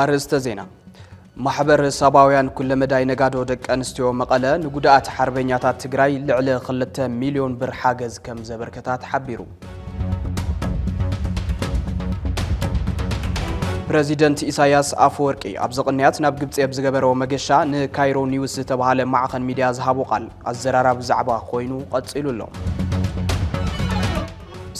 ኣርእስተ ዜና ማሕበር ሰባውያን ኩለመዳይ ነጋዶ ደቂ ኣንስትዮ መቐለ ንጉድኣት ሓርበኛታት ትግራይ ልዕሊ 2 ሚልዮን ብር ሓገዝ ከም ዘበርከታ ተሓቢሩ። ፕረዚደንት ኢሳያስ ኣፈወርቂ ኣብዚ ቅንያት ናብ ግብፂ ኣብ ዝገበረዎ መገሻ ንካይሮ ኒውስ ዝተባሃለ ማዕኸን ሚድያ ዝሃቦ ቃል ኣዘራራቢ ዛዕባ ኮይኑ ቐፂሉ ኣሎ።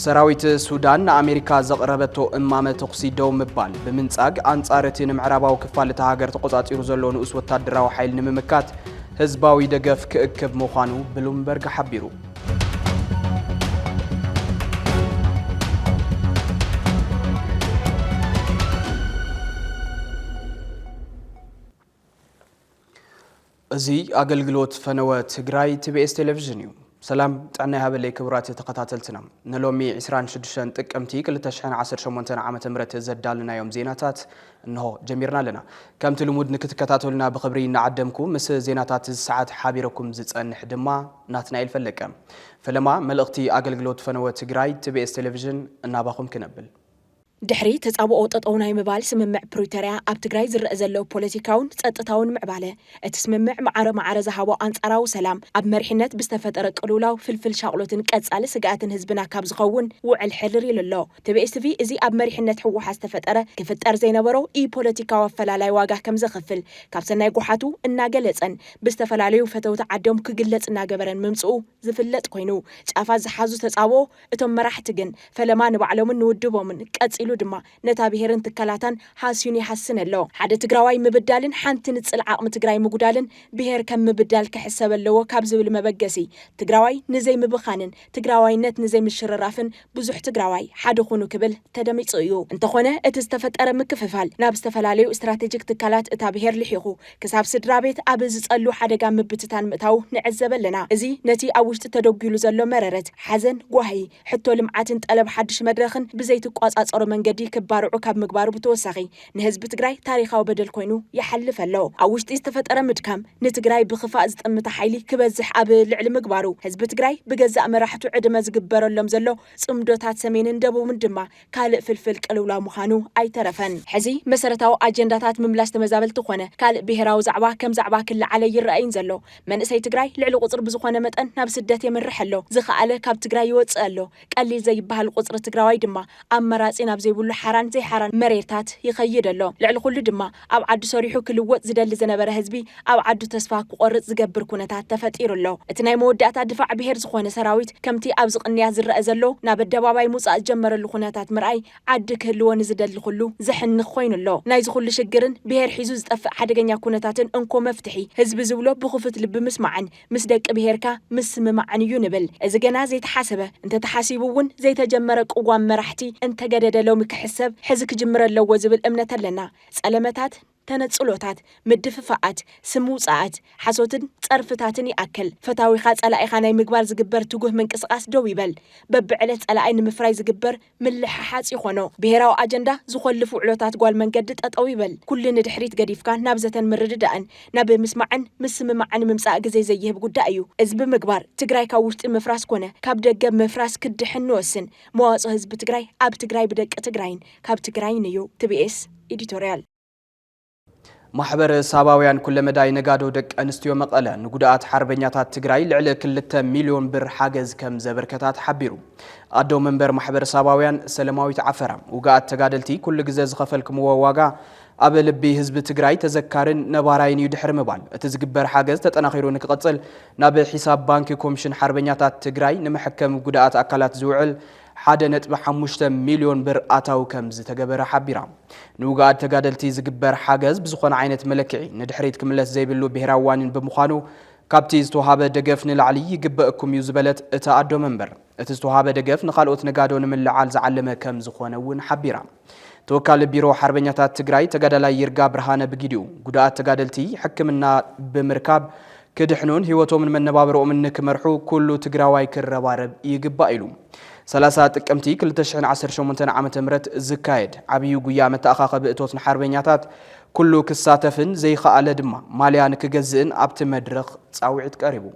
ሰራዊት ሱዳን ንኣሜሪካ ዘቕረበቶ እማመ ተኹሲ ደው ምባል ብምንጻግ ኣንጻር እቲ ንምዕራባዊ ክፋል እታ ሃገር ተቖጻጺሩ ዘሎ ንኡስ ወታደራዊ ሓይል ንምምካት ህዝባዊ ደገፍ ክእክብ ምዃኑ ብሉምበርግ ሓቢሩ። እዚ ኣገልግሎት ፈነወ ትግራይ ቲቢኤስ ቴሌቪዥን እዩ። ሰላም ጥዕና ይሃበለይ ክቡራት ተኸታተልትና ንሎሚ 26 ጥቅምቲ 2018 ዓ ም ዘዳልናዮም ዜናታት እንሆ ጀሚርና ኣለና ከምቲ ልሙድ ንክትከታተሉና ብኽብሪ እናዓደምኩ ምስ ዜናታት እዚ ሰዓት ሓቢረኩም ዝጸንሕ ድማ ናትናኤል ፈለቀ። ፈለማ መልእኽቲ ኣገልግሎት ፈነወ ትግራይ ትቤኤስ ቴሌቪዥን እናባኹም ክነብል። ድሕሪ ተጻብኦ ጠጠው ናይ ምባል ስምምዕ ፕሪቶርያ ኣብ ትግራይ ዝረእ ዘሎ ፖለቲካውን ጸጥታውን ምዕባለ፣ እቲ ስምምዕ ማዕረ ማዕረ ዝሃቦ ኣንጻራዊ ሰላም ኣብ መሪሕነት ብዝተፈጠረ ቅልውላው ፍልፍል ሻቕሎትን ቀጻሊ ስግኣትን ህዝብና ካብ ዝኸውን ውዕል ሕርር ኢሉ ኣሎ። ቲቢኤስ ቲቪ እዚ ኣብ መሪሕነት ህወሓት ዝተፈጠረ ክፍጠር ዘይነበሮ ኢፖለቲካዊ ኣፈላላይ ዋጋ ከምዘኽፍል ካብ ሰናይ ጎሓቱ እናገለፀን ብዝተፈላለዩ ፈተውቲ ዓዶም ክግለፅ እናገበረን ምምፅኡ ዝፍለጥ ኮይኑ ጫፋት ዝሓዙ ተፃብኦ እቶም መራሕቲ ግን ፈለማ ንባዕሎምን ንውድቦምን ቀፂሉ ድማ ነታ ብሄርን ትካላታን ሃስዩን ይሃስን ኣሎ። ሓደ ትግራዋይ ምብዳልን ሓንቲ ንፅል ዓቕሚ ትግራይ ምጉዳልን ብሄር ከም ምብዳል ክሕሰብ ኣለዎ ካብ ዝብል መበገሲ ትግራዋይ ንዘይምብኻንን ትግራዋይነት ንዘይምሽርራፍን ብዙሕ ትግራዋይ ሓደ ኹኑ ክብል ተደሚፁ እዩ። እንተኾነ እቲ ዝተፈጠረ ምክፍፋል ናብ ዝተፈላለዩ ስትራቴጂክ ትካላት እታ ብሄር ልሒኹ ክሳብ ስድራቤት ኣብ ዝፀሉ ሓደጋ ምብትታን ምእታዉ ንዕዘበ ኣለና። እዚ ነቲ ኣብ ውሽጢ ተደጒሉ ዘሎ መረረት፣ ሓዘን፣ ጓሂ፣ ሕቶ ልምዓትን ጠለብ ሓዱሽ መድረኽን ብዘይትቋፃፀሮ መንገዲ ክባርዑ ካብ ምግባሩ ብተወሳኺ ንህዝቢ ትግራይ ታሪኻዊ በደል ኮይኑ ይሓልፍ ኣሎ። ኣብ ውሽጢ ዝተፈጠረ ምድካም ንትግራይ ብክፋእ ዝጠምተ ሓይሊ ክበዝሕ ኣብ ልዕሊ ምግባሩ ህዝቢ ትግራይ ብገዛእ መራሕቱ ዕድመ ዝግበረሎም ዘሎ ፅምዶታት ሰሜንን ደቡብን ድማ ካልእ ፍልፍል ቅልውላው ምኻኑ ኣይተረፈን። ሕዚ መሰረታዊ ኣጀንዳታት ምምላስ ተመዛበልቲ ኮነ ካልእ ብሄራዊ ዛዕባ ከም ዛዕባ ክለዓለ ይረኣይን ዘሎ። መንእሰይ ትግራይ ልዕሊ ቁፅሪ ብዝኾነ መጠን ናብ ስደት የምርሕ ኣሎ። ዝኸኣለ ካብ ትግራይ ይወፅእ ኣሎ። ቀሊል ዘይበሃል ቁጽሪ ትግራዋይ ድማ ኣብ መራጺ ናብ ዘይብሉ ሓራን ዘይሓራን መሬታት ይኸይድ ኣሎ። ልዕሊ ኩሉ ድማ ኣብ ዓዱ ሰሪሑ ክልወጥ ዝደሊ ዝነበረ ህዝቢ ኣብ ዓዱ ተስፋ ክቆርጽ ዝገብር ኩነታት ተፈጢሩ ኣሎ። እቲ ናይ መወዳእታ ድፋዕ ብሄር ዝኾነ ሰራዊት ከምቲ ኣብዚ ቅንያት ዝረኣ ዘሎ ናብ ኣደባባይ ምውጻእ ዝጀመረሉ ኩነታት ምርኣይ ዓዲ ክህልዎ ንዝደሊ ኩሉ ዘሕንኽ ኮይኑ ኣሎ። ናይዚ ኩሉ ሽግርን ብሄር ሒዙ ዝጠፍእ ሓደገኛ ኩነታትን እንኮ መፍትሒ ህዝቢ ዝብሎ ብኹፍት ልቢ ምስማዕን ምስ ደቂ ብሄርካ ምስምማዕን እዩ ንብል። እዚ ገና ዘይተሓሰበ፣ እንተተሓሲቡ እውን ዘይተጀመረ ቅዋም መራሕቲ እንተገደደ ሎሚ ክሕሰብ ሕዚ ክጅምር ኣለዎ ዝብል እምነት ኣለና። ጸለመታት፣ ተነጽሎታት፣ ምድፍፋኣት፣ ስም ምውጻኣት፣ ሓሶትን ጸርፍታትን ይኣክል። ፈታዊኻ ጸላኢኻ ናይ ምግባር ዝግበር ትጉህ ምንቅስቓስ ደው ይበል። በብዕለት ጸላኣይ ንምፍራይ ዝግበር ምልሕሓጽ ይኾኖ ብሄራዊ ኣጀንዳ ዝኾልፍ ውዕሎታት ጓል መንገዲ ጠጠው ይበል ኩሉ ንድሕሪት ገዲፍካ ናብ ዘተን ምርድዳእን ናብ ምስማዕን ምስምማዕን ምምጻእ ግዜ ዘይህብ ጉዳይ እዩ እዚ ብምግባር ትግራይ ካብ ውሽጢ ምፍራስ ኮነ ካብ ደገ ምፍራስ ክትድሕን ንወስን መዋጽኦ ህዝቢ ትግራይ ኣብ ትግራይ ብደቂ ትግራይን ካብ ትግራይን እዩ። tbs Editorial። ማሕበረ ሳባውያን ኩለመዳይ ነጋዶ ደቂ ኣንስትዮ መቐለ ንጉዳኣት ሓርበኛታት ትግራይ ልዕሊ ክልተ ሚልዮን ብር ሓገዝ ከም ዘበርከታ ተሓቢሩ። ኣዶ መንበር ማሕበረ ሳባውያን ሰለማዊት ዓፈራ፣ ውግኣት ተጋደልቲ ኩሉ ግዘ ዝኸፈልክምዎ ዋጋ ኣብ ልቢ ህዝቢ ትግራይ ተዘካርን ነባራይን እዩ ድሕሪ ምባል፣ እቲ ዝግበር ሓገዝ ተጠናኺሩ ንክቕፅል ናብ ሒሳብ ባንኪ ኮምሽን ሓርበኛታት ትግራይ ንመሐከሚ ጉዳኣት ኣካላት ዝውዕል ሓደ ነጥቢ ሓሙሽተ ሚልዮን ብር ኣታዊ ከምዝተገበረ ሓቢራ። ንውጉኣት ተጋደልቲ ዝግበር ሓገዝ ብዝኾነ ዓይነት መለክዒ ንድሕሪት ክምለስ ዘይብሉ ብሄራዊ ዋኒን ብምዃኑ ካብቲ ዝተውሃበ ደገፍ ንላዕሊ ይግበእኩም እዩ ዝበለት እታ ኣዶ መንበር፣ እቲ ዝተውሃበ ደገፍ ንኻልኦት ነጋዶ ንምልዕዓል ዝዓለመ ከምዝኾነ እውን ሓቢራ። ተወካሊ ቢሮ ሓርበኛታት ትግራይ ተጋዳላይ ይርጋ ብርሃነ ብጊዲኡ፣ ጉዱኣት ተጋደልቲ ሕክምና ብምርካብ ክድሕኑን ህይወቶምን መነባብሮኦምን ንክመርሑ ኩሉ ትግራዋይ ክረባረብ ይግባእ ኢሉ። ሰላሳ ጥቅምቲ ክልተ ሽሕን ዓሰርተ ሸሞንተን ዓመተ ምህረት ዝካየድ ዓብዩ ጉያ መተኣኻኸቢ እቶት ንሓርበኛታት ኩሉ ክሳተፍን ዘይኸኣለ ድማ ማልያ ንክገዝእን ኣብቲ መድረኽ ፃውዒት ቀሪቡ።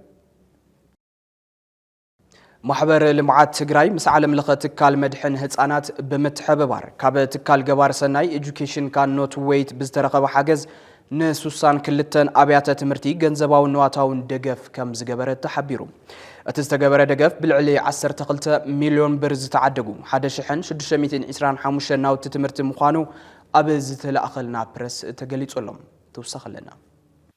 ማሕበር ልምዓት ትግራይ ምስ ዓለም ለኸ ትካል መድሕን ህፃናት ብምትሕብባር ካብ ትካል ገባር ሰናይ ኤጁኬሽን ካኖት ዌይት ብዝተረኸበ ሓገዝ ንሱሳን ክልተን ኣብያተ ትምህርቲ ገንዘባውን ንዋታውን ደገፍ ከም ዝገበረ ተሓቢሩ። እቲ ዝተገበረ ደገፍ ብልዕሊ 12 ሚሊዮን ብር ዝተዓደጉ 1625 ናውቲ ትምህርቲ ምዃኑ ኣብ ዝተላእኸልና ፕረስ ተገሊጹ ኣሎ። ተወሳኺ ኣለና።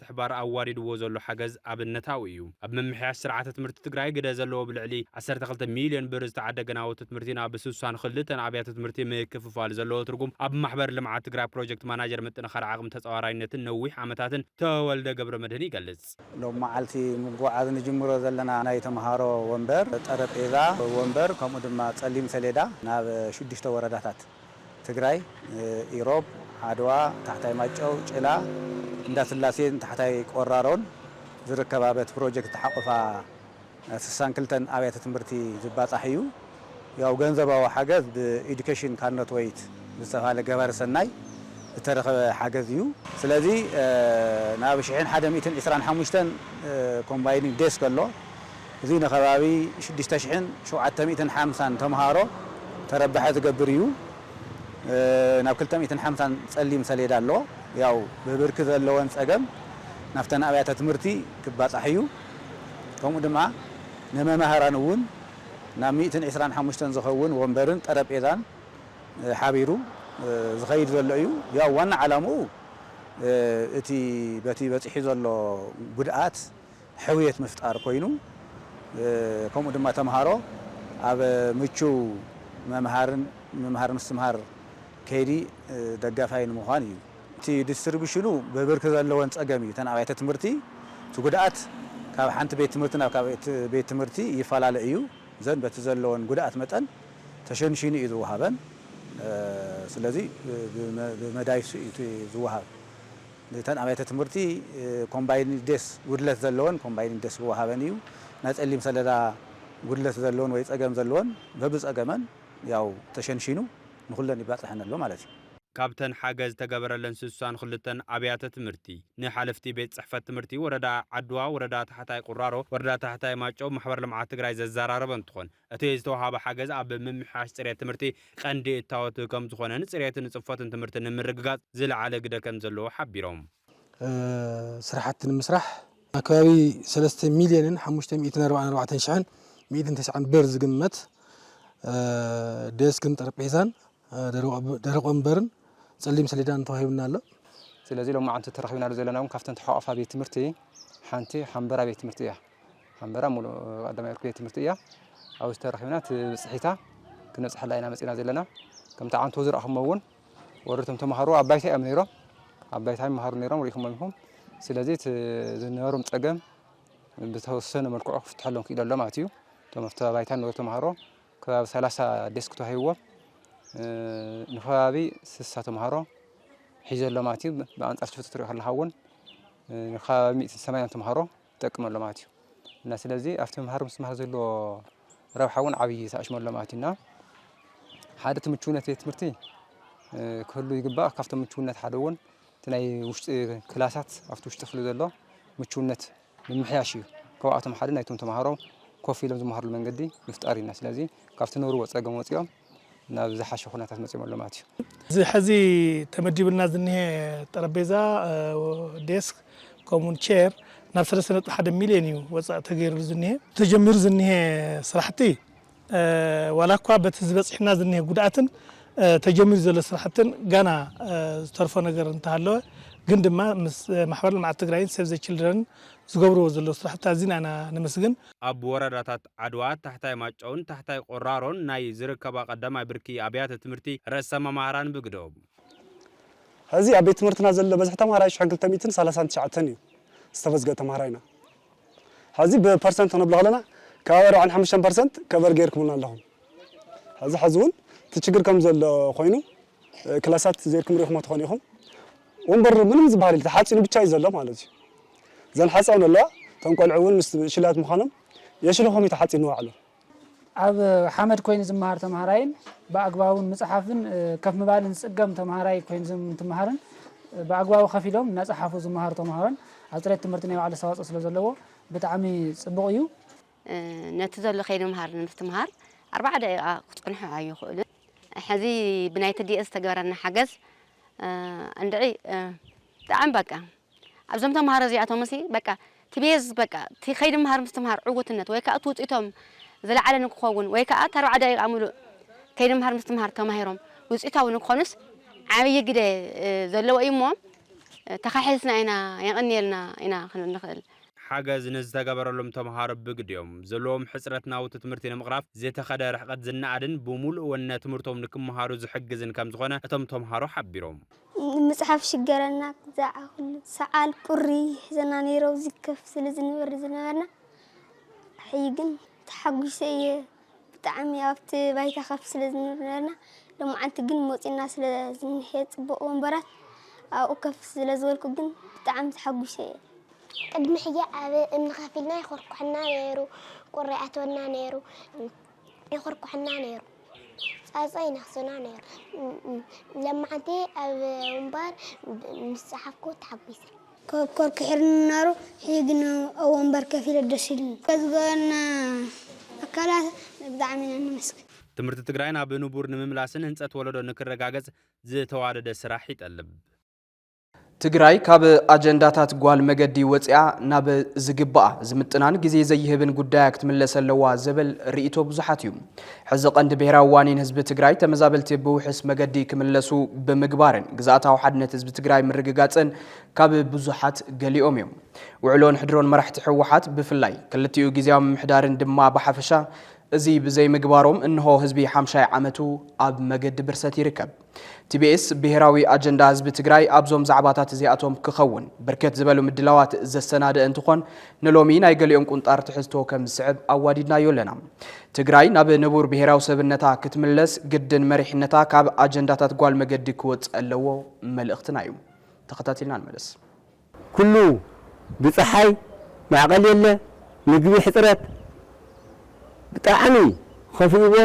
ምትሕባር ኣዋዲድዎ ዘሎ ሓገዝ ኣብነታዊ እዩ። ኣብ ምምሕያሽ ስርዓተ ትምህርቲ ትግራይ ግደ ዘለዎ ብልዕሊ ዓሰርተ ክልተ ሚልዮን ብር ዝተዓደገ ናውቲ ትምህርቲ ናብ ስሳን ክልተን ኣብያተ ትምህርቲ ምክፍፋል ዘለዎ ትርጉም ኣብ ማሕበር ልምዓት ትግራይ ፕሮጀክት ማናጀር ምጥንኻር ዓቕሚ ተፃዋራይነትን ነዊሕ ዓመታትን ተወልደ ገብረመድህን ይገልፅ። ሎሚ መዓልቲ ምጉዕዓዝ ንጅምሮ ዘለና ናይ ተምሃሮ ወንበር፣ ጠረጴዛ፣ ወንበር ከምኡ ድማ ፀሊም ሰሌዳ ናብ ሽዱሽተ ወረዳታት። ትግራይ፣ ኢሮብ፣ ዓድዋ፣ ታሕታይ ማይጨው፣ ጭላ፣ እንዳስላሴን ታሕታይ ቆራሮን ዝርከባ በቲ ፕሮጀክት ዝተሓቖፋ ስሳን ክልተን ኣብያተ ትምህርቲ ዝባፃሕ እዩ። ያው ገንዘባዊ ሓገዝ ብኢዱኬሽን ካንኖት ወይት ብዝተብሃለ ገባሪ ሰናይ ዝተረኸበ ሓገዝ እዩ። ስለዚ ናብ ሽሕን ሓደ ሚእትን ዕስራን ሓሙሽተን ኮምባይኒንግ ዴስክ ኣሎ። እዚ ንከባቢ ሽዱሽተ ሽሕን ሸውዓተ ሚእትን ሓምሳን ተምሃሮ ተረባሒ ዝገብር ኢዩ። ናብ ክልተ ሚእትን ሓምሳን ጸሊም ሰሌዳ ኣሎ። ያው ብብርኪ ዘለወን ጸገም ናብተን ኣብያተ ትምህርቲ ክባጻሕ ኢዩ። ከምኡ ድማ ንመማህራን እውን ናብ ሚእትን ዕስራን ሓሙሽተን ዝኸውን ወንበርን ጠረጴዛን ሓቢሩ ዝኸይድ ዘሎ ኢዩ። ያው ዋና ዓላምኡ እቲ በቲ በጺሑ ዘሎ ጉድኣት ሕውየት ምፍጣር ኮይኑ ከምኡ ድማ ተምሃሮ ኣብ ምቹው መምሃርን ምምሃር ምስትምሃር ከይዲ ደጋፋይ ንምዃን እዩ። እቲ ዲስትሪቡሽኑ ብብርኪ ዘለወን ፀገም እዩ። እተን ኣብያተ ትምህርቲ እቲ ጉድኣት ካብ ሓንቲ ቤት ትምህርቲ ናብ ካልኣይቲ ቤት ትምህርቲ ይፈላለ እዩ። እዘን በቲ ዘለወን ጉድኣት መጠን ተሸንሺኑ እዩ ዝወሃበን። ስለዚ ብመዳይ እሱ እዩ እቲ ዝወሃብ። እተን ኣብያተ ትምህርቲ ኮምባይንድ ዴስክ ጉድለት ዘለወን ኮምባይንድ ዴስክ ክወሃበን እዩ። ናይ ፀሊም ሰሌዳ ጉድለት ዘለወን ወይ ፀገም ዘለወን በብፀገመን ያው ተሸንሺኑ ንኹለን ይባፀሐን ኣሎ ማለት እዩ። ካብተን ሓገዝ ዝተገበረለን ስሳን ክልተን ኣብያተ ትምህርቲ ንሓለፍቲ ቤት ፅሕፈት ትምህርቲ ወረዳ ዓድዋ፣ ወረዳ ታሕታይ ቁራሮ፣ ወረዳ ታሕታይ ማይጨው ማሕበር ልምዓት ትግራይ ዘዘራረበ እንትኾን፣ እቲ ዝተውሃበ ሓገዝ ኣብ ምምሕያሽ ፅሬት ትምህርቲ ቐንዲ እታወት ከምዝኾነን ፅሬትን ፅፈትን ትምህርቲ ንምርግጋፅ ዝለዓለ ግደ ከምዘለዎ ሓቢሮም። ስራሕቲ ንምስራሕ ኣብ ከባቢ ሰለስተ ሚሊየንን ሓሙሽተ ሚእትን ኣርባዓን ኣርባዕተን ሽሕን ሚእትን ተስዓን ብር ዝግመት ዴስክን ጠረጴዛን ደረቕ ወንበርን ጸሊም ሰሌዳን ተዋሂቡና ኣሎ። ስለዚ ሎማዓንቲ ተረኺብናሉ ዘለና እውን ካብተን ተሓቋፋ ቤት ትምህርቲ ሓንቲ ሓምበራ ቤት ትምህርቲ እያ። ሓምበራ ሙሉእ ቀዳማይ ብርኪ ቤት ትምህርቲ እያ። ኣብዚ ተረኺብና እቲ ብፅሒታ ክነብፅሐላ ኢና መፂና ዘለና። ከምቲ ዓንቶ ዝረእኹሞ እውን ወረቶም ተምሃሮ ኣብ ባይታ እዮም ነይሮም ኣብ ባይታ ይመሃሩ ነይሮም ርኢኹሞም ኢኹም። ስለዚ እቲ ዝነበሮም ፀገም ብተወሰነ መልክዑ ክፍትሐሎም ክኢሉ ኣሎ ማለት እዩ። እቶም ኣብቲ ባይታ ንነበሩ ተምሃሮ ከባቢ ሰላሳ ዴስክ ተዋሂብዎም ንከባቢ ስሳ ተምሃሮ ሒዘሎም ኣትዩ ብኣንፃር ሽፍት ትሪኦ ከለካ እውን ንከባቢ ሚእትን ሰማንያን ተምሃሮ ይጠቅም ኣሎ ማለት እዩ እና ስለዚ ኣብቲ መምሃሪ ምስትምሃር ዘለዎ ረብሓ እውን ዓብዪ ተኣሽሞ ኣሎ ማለት እዩ እና ሓደ እቲ ምቹውነት ቤት ትምህርቲ ክህሉ ይግባእ ካብቶም ምቹውነት ሓደ እውን እቲ ናይ ውሽጢ ክላሳት ኣብቲ ውሽጢ ክፍሊ ዘሎ ምቹውነት ምምሕያሽ እዩ። ካብኣቶም ሓደ ናይቶም ተምሃሮ ኮፍ ኢሎም ዝመሃርሉ መንገዲ ምፍጣር እዩ። ስለዚ ካብቲ ዝነበርዎ ፀገም ወፂኦም ናብ ዝሓሸ ኩነታት መፂኦም ኣለዉ ማለት እዩ። እዚ ሐዚ ተመዲብልና ዝኒሀ ጠረጴዛ፣ ዴስክ፣ ከምኡ እውን ቼር ናብ ሰለስተ ነጥቢ ሓደ ሚሊየን እዩ ወፃኢ ተገይርሉ ዝኒሀ። ተጀሚሩ ዝኒሀ ስራሕቲ ዋላ እኳ በቲ ዝበፅሕና ዝኒሀ ጉድኣትን ተጀሚሩ ዘሎ ስራሕትን ጋና ዝተርፎ ነገር እንተሃለወ ግን ድማ ምስ ማሕበር ልምዓት ትግራይን ሴቭ ዘ ችልድረንን ዝገብርዎ ዘለዉ ስራሕቲ ኣዚና ኢና ነመስግን። ኣብ ወረዳታት ዓድዋ፣ ታሕታይ ማጫውን ታሕታይ ቆራሮን ናይ ዝርከባ ቀዳማይ ብርኪ ኣብያተ ትምህርቲ ርእሰ መማህራን ብግደኦም፣ ሐዚ ኣብ ቤት ትምህርትና ዘሎ በዝሒ ተምሃራይ ሽሕ ክልተ ሚእትን ሰላሳን ትሽዓተን እዩ ዝተመዝገበ ተምሃራይና። ሐዚ ብፐርሰንት ክንብሎ ከለና ካብ ኣርብዓን ሓሙሽተን ፐርሰንት ከቨር ገይርኩምልና ኣለኹም ሐዚ ሐዚ እውን እቲ ችግር ከም ዘሎ ኮይኑ ክላሳት ዘይርኩም ሪኢኹሞ ትኾኑ ኢኹም ወንበር ምንም ዝበሃል የለ ተሓፂኑ ብቻ እዩ ዘሎ ማለት እዩ እዘን ሓፃውን ኣለዋ እቶም ቆልዑ እውን ምስ ሽላት ምዃኖም የሽልኹም እዩ ተሓፂኑ ባዕሉ ኣብ ሓመድ ኮይኑ ዝመሃር ተምሃራይን ብኣግባቡ ምፅሓፍን ከፍ ምባልን ዝፅገም ተምሃራይ ኮይኑ ዝምትምሃርን ብኣግባቡ ከፍ ኢሎም እናፀሓፉ ዝመሃሩ ተምሃሮን ኣብ ፅሬት ትምህርቲ ናይ ባዕሉ ኣስተዋፅኦ ስለ ዘለዎ ብጣዕሚ ፅቡቕ እዩ። ነቲ ዘሎ ከይዲ ምምሃር ንምስትምሃር ኣርባዓ ደቂቓ ክፀንሑ ኣይኽእሉን። ሕዚ ብናይ ትዲኤስ ዝተገበረና ሓገዝ እንድዒ ብጣዕሚ በቃ ኣብዞም ተማሃሮ እዚኣቶምሲ በቃ እቲ ቤዝ በቃ እቲ ከይዲ ምሃር ምስትምሃር ዕውትነት ወይ ከዓ እቲ ውፅኢቶም ዝለዓለ ንክኸውን ወይ ከዓ እቲ ኣርብዓ ደቂቃ ሙሉእ ከይዲ ምሃር ምስትምሃር ተማሂሮም ውፅኢታዊ ንክኾኑስ ዓብዪ ግደ ዘለዎ እዩ እሞ ተኻሒስና ኢና የቐንየልና ኢና ክንብል ንኽእል። ሓገዝ ንዝተገበረሎም ተምሃሮ ብግዲኦም ዘለዎም ሕፅረት ናውቲ ትምህርቲ ንምቕራፍ ዝተኸደ ርሕቐት ዝነኣድን ብሙሉእ ወነ ትምህርቶም ንክምሃሩ ዝሕግዝን ከምዝኾነ እቶም ተምሃሮ ሓቢሮም። ንምጽሓፍ ሽገረና ክዛዕ ኩሉ ሰዓል ቁሪ ይሕዘና ነይሩ ኣብዚ ከፍ ስለ ዝንበር ዝነበርና ሕይ ግን ተሓጒሰ እየ ብጣዕሚ ኣብቲ ባይታ ከፍ ስለ ዝነበርና ሎማዓንቲ ግን ሞጺና ስለ ዝንሄ ጽቡቕ ወንበራት ኣብኡ ከፍ ስለ ዝበልኩ ግን ብጣዕሚ ተሓጒሰ እየ ቅድሚ ሕጂ ኣብ እምኒ ከፍ ኢልና ይኹርኩሐና ነይሩ ቁሪ ይኣትወና ነይሩ ይኹርኩሑና ነይሩ ጻጸ ይነኽሱና ነይሩ ለማዓንቲ ኣብ ወንባር ምስ ጸሓፍኩ ተሓጒሰ። ኮብኮር ክሒርኒ ነይሩ ሕጂ ግን ኣብ ወንበር ከፍ ኢለ ደስ ኢሉኒ። ዘዝገበሩልና ኣካላት ብጣዕሚ ኢና ነመስግን። ትምህርቲ ትግራይ ናብ ንቡር ንምምላስን ህንፀት ወለዶ ንክረጋገፅ ዝተዋደደ ስራሕ ይጠልብ። ትግራይ ካብ ኣጀንዳታት ጓል መገዲ ወፂኣ ናብ ዝግባኣ ዝምጥናን ግዜ ዘይህብን ጉዳያ ክትምለስ ኣለዋ ዝብል ርኢቶ ብዙሓት እዩ። ሕዚ ቀንዲ ብሄራዊ ዋኒን ህዝቢ ትግራይ ተመዛበልቲ ብውሕስ መገዲ ክምለሱ ብምግባርን ግዝኣታዊ ሓድነት ህዝቢ ትግራይ ምርግጋፅን ካብ ብዙሓት ገሊኦም እዮም። ውዕሎን ሕድሮን መራሕቲ ህወሓት ብፍላይ ክልቲኡ ግዝያዊ ምምሕዳርን ድማ ብሓፈሻ እዚ ብዘይምግባሮም እንሆ ህዝቢ ሓምሻይ ዓመቱ ኣብ መገዲ ብርሰት ይርከብ። ቲቢኤስ ብሄራዊ ኣጀንዳ ህዝቢ ትግራይ ኣብዞም ዛዕባታት እዚኣቶም ክኸውን ብርክት ዝበሉ ምድላዋት ዘሰናደእ እንትኾን ንሎሚ ናይ ገሊኦም ቁንጣር ትሕዝቶ ከም ዝስዕብ ኣዋዲድናዮ ኣለና። ትግራይ ናብ ንቡር ብሄራዊ ሰብነታ ክትምለስ ግድን መሪሕነታ ካብ ኣጀንዳታት ጓል መገዲ ክወፅእ ኣለዎ መልእኽትና እዩ። ተኸታቲልና ንመለስ። ኩሉ ብጸሓይ ማዕቀል የለ ምግቢ ሕጽረት ብጣዕሚ ኸፊእዎ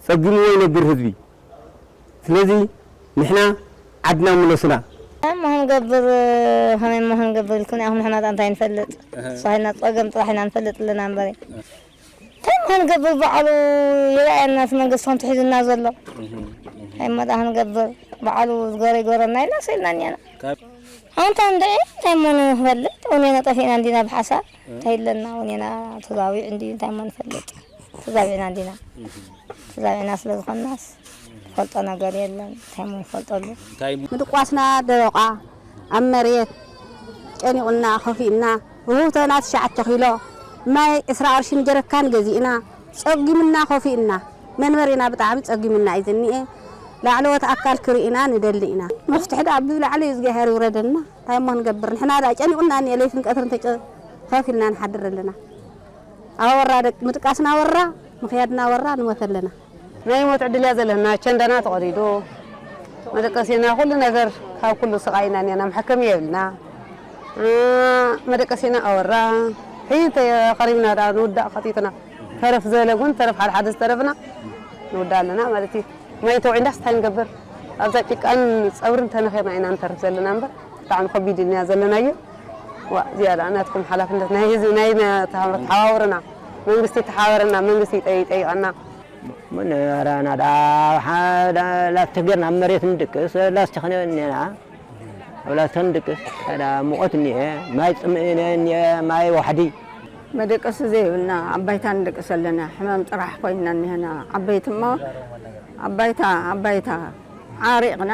ጸጊምዎ ይነብር ህዝቢ ስለዚ ንሕና ዓድና ምለሱና። ታይ እሞ ክንገብር ከመይ እሞ ክንገብር ኢልኩም ኢኹም ንሕናስ ኣንታይ ንፈልጥ ተሳሂልና ጸገም ጥራሕ ኢና ንፈልጥ ኣለና እምበሪ። ታይ ምክንገብር ባዕሉ ይርኣየና እቲ መንግስቲ ከምቲ ሒዙና ዘሎ ታይ መዳ ክንገብር ባዕሉ ዝገሮ ይገረና ኢልና ስኢልና እኒኣና ኣንታ እንድዒ እንታይ እሞ ንፈልጥ እውኔና ጠፊእና እንዲና ብሓሳብ እንታይ ኣለና እውኔና ተዛዊዕ እንዲ እንታይ እሞ ንፈልጥ ተዛዊዕና እንዲና ተዛዊዕና ስለ ዝኾናስ ፈልጦ ነገር የለን እንታይ ሞ ንፈልጠሉ ምድቋስና ደረቋ ኣብ መሬት ጨኒቑና ከፊእና ርሁውቶና ትሽዓተ ኪሎ ማይ ዕስራ ቅርሺ ንጀረካን ገዚእና ጸጊሙና ኮፊእና መንበሪና ብጣዕሚ ጸጊሙና እዩ ዝኒኤ ላዕለዎት ኣካል ክሪኢና ንደሊ ኢና። መፍትሒ ድኣ ብ ላዕሊ እዝግኣሄር ይውረደልና ታይ እሞ ንገብር ንሕና ድኣ ጨኒቁና እኒኤ ለይትን ቀትርን ተጨ ፈፍ ኢልና ንሓድር ኣለና ኣወራ ደቂ ምድቃስና ወራ ምክያድና ወራ ንሞት ኣለና። ናይ ሞት ዕድል እያ ዘለና ኣቸንዳና ተቀዲዱ መደቀሲና ኩሉ ነገር ካብ ኩሉ ስቃይ ኢና እኒኣና መሐከሚ የብልና መደቀሲና ኣወራ ሕይ ተቀሪብና ድኣ ንውዳእ ከቲትና ተረፍ ዝበለ እውን ተረፍ ሓደ ሓደ ዝተረፍና ንውዳእ ኣለና ማለት እዩ ማይ ተውዒልናስ እንታይ ንገብር ኣብዛ ጭቃን ፀብርን ተነኺርና ኢና ንተርፍ ዘለና እምበር ብጣዕሚ ከቢድ እኒኣ ዘለናዮ ዋእ እዚኣ ድኣ ናትኩም ሓላፍነት ናይ ህዝቢ ናይ ተሓባበሩና መንግስቲ ተሓበረና መንግስቲ ይጠይቀና። ምንባረ ናዳ ሓደ ላስቲክ ጌርና ኣብ መሬት ንድቅስ ላስቲክ እኒኤና ኣብ ላስቲክ ንድቅስ ካዳ ሙቐት እኒኤ ማይ ፅምኢ እኒኤ ማይ ዋሕዲ። መደቀሲ ዘይብልና ኣብ ባይታ ንድቅስ ኣለና ሕማም ጥራሕ ኮይንና እኒሀና ዓበይቲ እሞ ኣብ ባይታ ኣብ ባይታ ዓሪቕና።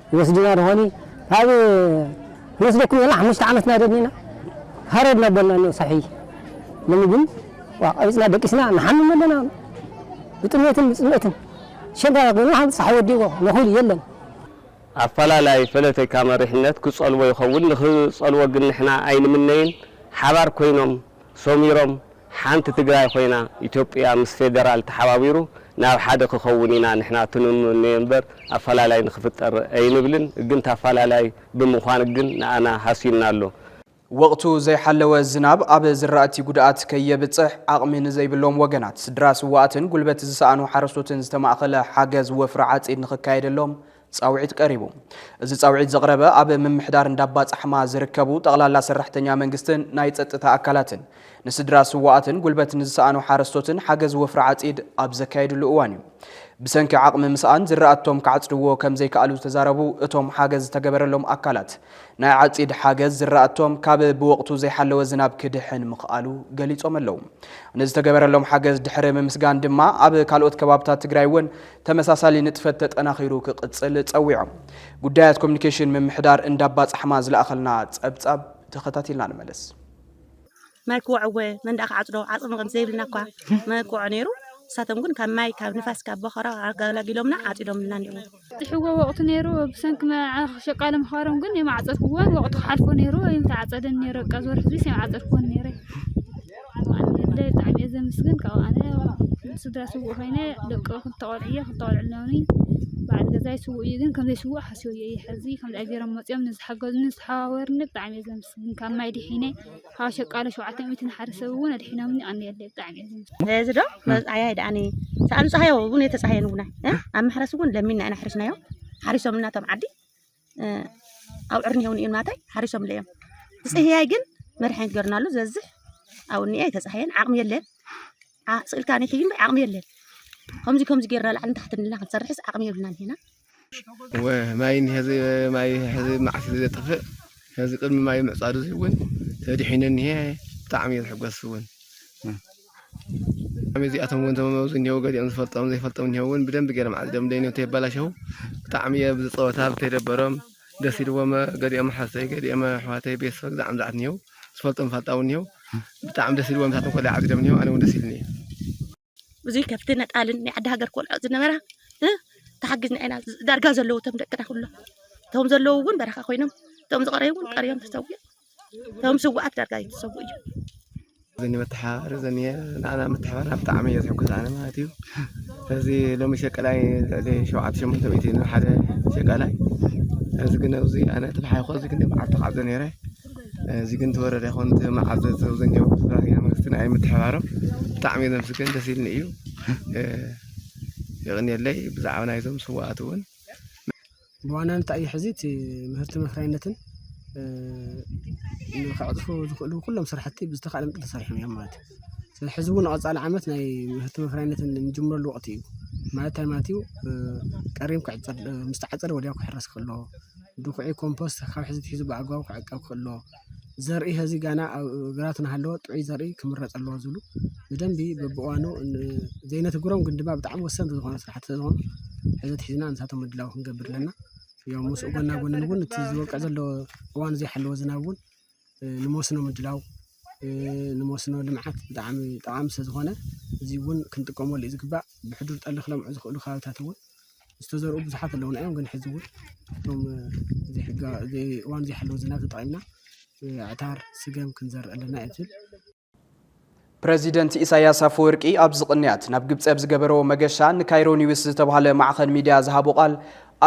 ይወስድና ዶኾን እዩ ኣብ ንወስደኩም እየና ሓሙሽተ ዓመት እና ደኒና ሃረር ናበልና እኒኦ ሳሕቢ ሎሚ ግን ዋእ ቀቢፅና ደቂስና ንሓምም ኣለና ብጥምየትን ብፅምእትን ሸጋራ ኮይኑ ሓም ፀሓይ ወዲእዎ ነኹል የለን ኣፈላላይ ፈለተካ መሪሕነት ክፀልዎ ይኸውን ንክፀልዎ ግን ንሕና ኣይንምነይን ሓባር ኮይኖም ሰሚሮም ሓንቲ ትግራይ ኾይና ኢትዮጵያ ምስ ፌደራል ተሓባቢሩ ናብ ሓደ ክኸውን ኢና ንሕና ትንምነዮ እምበር ኣፈላላይ ንክፍጠር ኣይንብልን ግን ታፋላላይ ብምዃን ግን ንኣና ሃስዩና ኣሎ። ወቕቱ ዘይሓለወ ዝናብ ኣብ ዝራእቲ ጉድኣት ከየብፅሕ ዓቕሚ ንዘይብሎም ወገናት፣ ስድራ ስውኣትን ጉልበት ዝሰኣኑ ሓረስቶትን ዝተማእኸለ ሓገዝ ወፍሪ ዓፂድ ንኽካየደሎም ፃውዒት ቀሪቡ። እዚ ፃውዒት ዘቕረበ ኣብ ምምሕዳር እንዳባፃሕማ ዝርከቡ ጠቕላላ ሰራሕተኛ መንግስትን ናይ ፀጥታ ኣካላትን ንስድራ ስውኣትን ጉልበት ንዝሰኣኑ ሓረስቶትን ሓገዝ ወፍሪ ዓፂድ ኣብ ዘካየድሉ እዋን እዩ። ብሰንኪ ዓቕሚ ምስኣን ዝራእቶም ክዓፅድዎ ከምዘይከኣሉ ዝተዛረቡ እቶም ሓገዝ ዝተገበረሎም ኣካላት ናይ ዓፂድ ሓገዝ ዝራእቶም ካብ ብወቕቱ ዘይሓለወ ዝናብ ክድሕን ምኽኣሉ ገሊፆም ኣለው። ንዝተገበረሎም ሓገዝ ድሕሪ ምምስጋን ድማ ኣብ ካልኦት ከባብታት ትግራይ እውን ተመሳሳሊ ንጥፈት ተጠናኺሩ ክቕፅል ፀዊዖም። ጉዳያት ኮሚኒኬሽን ምምሕዳር እንዳባፃሕማ ዝለኣኸልና ፀብፃብ ተኸታቲልና ንመለስ። ማይ ክወዕወ መንደኣ ክዓፅዶ ዓቕሚ ከም ዘይብልና እኳ መርትዖ ነይሩ። ንሳቶም ግን ካብ ማይ፣ ካብ ንፋስ፣ ካብ በኾራ ኣገላጊሎምና ዓፂዶምልና እኔዉ። ዝብፅሕዎ ወቕቲ ነይሩ። ብሰንኪ መርዓ ሸቃሊ ምኽባሮም ግን የማዕፀድክዎን። ወቕቲ ክሓልፎ ነይሩ ኣይምተዓፀደን ነይሩ። በቃ ዝወርሒ እዙይስ ኣይምዓፀድክዎን ነይረ። ኣደይ ብጣዕሚ እየ ዘመስግን ካብኡ ኣነ ስድራ ስውእ ኮይነ ደቂ ክልተ ቆልዑ እየ ክልተ ቆልዑ ኣለውኒ በዓል ገዛይ ስውእ እዩ ግን ከም ዘይስውእ ሓሲበዮ እየ ሕዚ ከምዚ ኣይ ገይሮም መፅዮም ንዝሓገዙኒ ዝተሓባበሩኒ ብጣዕሚ እየ ዘመስግን ካብ ማይ ድሒነ ካብ ሸቃሎ ሸውዓተ ሚእቲ ንሓደ ሰብ እውን ኣድሒኖምኒ ኣንየለይ ብጣዕሚ እየ ዘመስግን እዚ ዶ መብፅዓያ ድኣኒ ሰኣን ፀሃዮ እውን የተፀሃየን እውን ኣብ መሕረሲ እውን ለሚና ኢና ሕሪስናዮ ሓሪሶምና እቶም ዓዲ ኣብዑር እኒሀው እኒኦም ናተይ ሓሪሶምለ እዮም ፅህያይ ግን መድሓኒት ገርናሉ ዝበዝሕ ኣብኡ እኒአ ኣይተፃህየን ዓቕሚ የለን ስእልካ ኒሕዩ እምበይ ዓቕሚ የለን ከምዚ ከምዚ ጌርና ላዕልን ታሕትን ኢልና ክንሰርሕስ ዓቕሚ የብልናን ሄና ማይ ሄዚ ማይ ሄዚ መዓት ዘጠፍእ ሄዚ ቅድሚ ማይ ምዕፃዱ እውን ተድሒነ እኒሀ ብጣዕሚ እየ ዝሕጎስ እውን ኣቤት እዚኣቶም እውን እቶም ኣብዚ እኒሀው ገሊኦም ዝፈልጦም ዘይፈልጦም እኒሀው እውን ብደንቢ ገይሮም ዓዲዶም ደይኖ ተየባላሸው ብጣዕሚ እየ ብዚ ፀወታ ብተይደበሮም ደስ ኢልዎም ገሊኦም ሓፍተይ ገሊኦም ኣሕዋተይ ቤተሰብ ግዛዕ ምዛዕት እኒሀው ዝፈልጦም ፋልጣው እኒሀው ብጣዕሚ ደስ ኢልዎም ንሳቶም ኮላይ ዓዲዶም እኒሀው ኣነ እውን ደስ ኢልኒ ብዙይ ከብቲ ነጣልን ናይ ዓዲ ሃገር ኮልዖ ዝነበራ ተሓጊዝና ኢና ዳርጋ ዘለዉ እቶም ደቅና ኩሎም እቶም ዘለዉ እውን በረኻ ኮይኖም እቶም ዝቐረዩ እውን ቀሪዮም ተሰዊኦም እቶም ስውኣት ዳርጋ ይትሰቡ እዩ ዘኒ መተሓባበሪ ዘኒ ንዓና መተሓባበሪ ብጣዕሚ እየ ዝሕጎስ ኣነ ማለት እዩ እዚ ሎሚ ሸቀላይ ልዕሊ ሸውዓተ ሸሞንተ ሚእቲ ንሓደ ሸቀላይ እዚ ግን ኣብዚ ኣነ ተብሓይኮ እዚ ግን መዓልቲ ክዓዘ ነይረ እዚ ግን ተወረደ ይኹን መዓዘ ዘብዘኛው ስራሕኛ መንግስቲ ንኣይ ምትሕባሮም ብጣዕሚ እዩ ዘምስገን ደስ ኢልኒ እዩ የቕንየለይ ብዛዕባ ናይዞም ስዋኣት እውን ብዋናነት እንታይ እዩ ሕዚ እቲ ምህርቲ መፍረያይነትን ንኸዕፅፉ ዝኽእሉ ኩሎም ስራሕቲ ብዝተኻእለ መጠን ተሰሪሖም እዮም ማለት እዩ። ስለዚ ሕዚ እውን ንቐፃሊ ዓመት ናይ ምህርቲ መፍረያይነትን እንጅምረሉ ወቕቲ እዩ። ማለት እንታይ ማለት እዩ? ቀሪም ክዕፀድ ምስ ተዓፀደ ወዲያው ክሕረስ ክኽእል ኣለዎ። ድኹዒ ኮምፖስት ካብ ሕዚ ኣትሒዙ ብኣግባቡ ክዕቀብ ክኽእል ኣለዎ። ዘርኢ ሀዚ ጋና ኣብ ግራት ናሃለወ ጥዑይ ዘርኢ ክምረጽ ኣለዎ ዝብሉ ብደንቢ በብእዋኑ ዘይነትግሮም ግን ድማ ብጣዕሚ ወሰንቲ ዝኾኑ ስራሕቲ ስለዝኾኑ ሕዚ ኣትሒዝና ንሳቶም ምድላው ክንገብር ኣለና። ያው ምስኡ ጎና ጎንን እውን እቲ ዝወቅዕ ዘሎ እዋኑ ዘይሓለወ ዝናብ እውን ንመስኖ ምድላው ንመስኖ ልምዓት ብጣዕሚ ጠቓሚ ስለዝኾነ እዚ እውን ክንጥቀመሉ እዩ ዝግባእ። ብሕዱር ጠሊ ክለምዑ ዝኽእሉ ከባቢታት እውን ዝተዘርኡ ብዙሓት ኣለዉና እዮም ግን ሕዚ እውን እቶም እዋን ዘይሓለዉ ዝናብ ተጠቒምና ኣዕታር፣ ስገም ክንዘርእ ኣለና እዩ ዝብል። ፕረዚደንት ኢሳያስ ኣፈወርቂ ኣብዚ ቅንያት ናብ ግብፂ ኣብ ዝገበረዎ መገሻ ንካይሮ ኒውስ ዝተባህለ ማዕኸን ሚድያ ዝሃቦ ቃል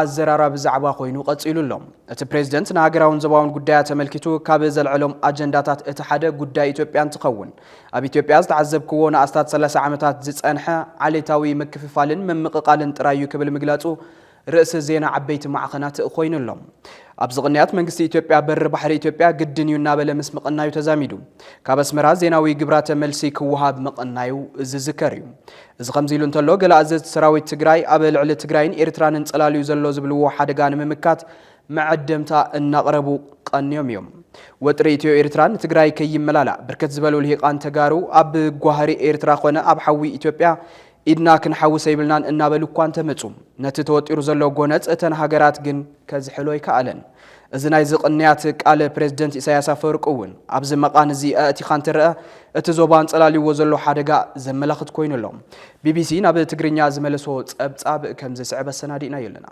ኣዘራራቢ ዛዕባ ኮይኑ ቀፂሉ ኣሎ። እቲ ፕሬዝደንት ንሃገራውን ዞባውን ጉዳያት ተመልኪቱ ካብ ዘልዐሎም ኣጀንዳታት እቲ ሓደ ጉዳይ ኢትዮጵያ እንትኸውን ኣብ ኢትዮጵያ ዝተዓዘብክዎ ንኣስታት ሰላሳ ዓመታት ዝፀንሐ ዓሌታዊ ምክፍፋልን ምምቕቓልን ጥራይ እዩ ክብል ምግላፁ ርእሲ ዜና ዓበይቲ ማዕኸናት ኮይኑ ኣሎ። ኣብዚ ቅንያት መንግስቲ ኢትዮጵያ በሪ ባሕሪ ኢትዮጵያ ግድን እዩ እናበለ ምስ ምቕናዩ ተዛሚዱ ካብ ኣስመራ ዜናዊ ግብራተ መልሲ ክወሃብ ምቕናዩ ዝዝከር እዩ። እዚ ከምዚ ኢሉ እንተሎ ገለ ኣዘዝቲ ሰራዊት ትግራይ ኣብ ልዕሊ ትግራይን ኤርትራን እንፀላልዩ ዘሎ ዝብልዎ ሓደጋ ንምምካት መዐደምታ እናቕረቡ ቐንዮም እዮም። ወጥሪ ኢትዮ ኤርትራ ንትግራይ ከይመላላእ ብርክት ዝበሉ ልሂቓን ተጋሩ ኣብ ጓህሪ ኤርትራ ኾነ ኣብ ሓዊ ኢትዮጵያ ኢድና ክንሓውስ ኣይብልናን እናበሉ እኳ እንተመፁ ነቲ ተወጢሩ ዘሎ ጎነፅ እተን ሃገራት ግን ከዝሕሎ ኣይከኣለን። እዚ ናይዚ ቕንያት ቃል ፕረዚደንት ኢሳያስ ኣፈወርቂ እውን ኣብዚ መቓን እዚ ኣእቲኻ እንትረኣ እቲ ዞባ ኣንፀላልይዎ ዘሎ ሓደጋ ዘመላኽት ኮይኑ ኣሎ። ቢቢሲ ናብ ትግርኛ ዝመለሶ ፀብፃብ ከምዝስዕብ ኣሰናዲእናዮ ኣለና።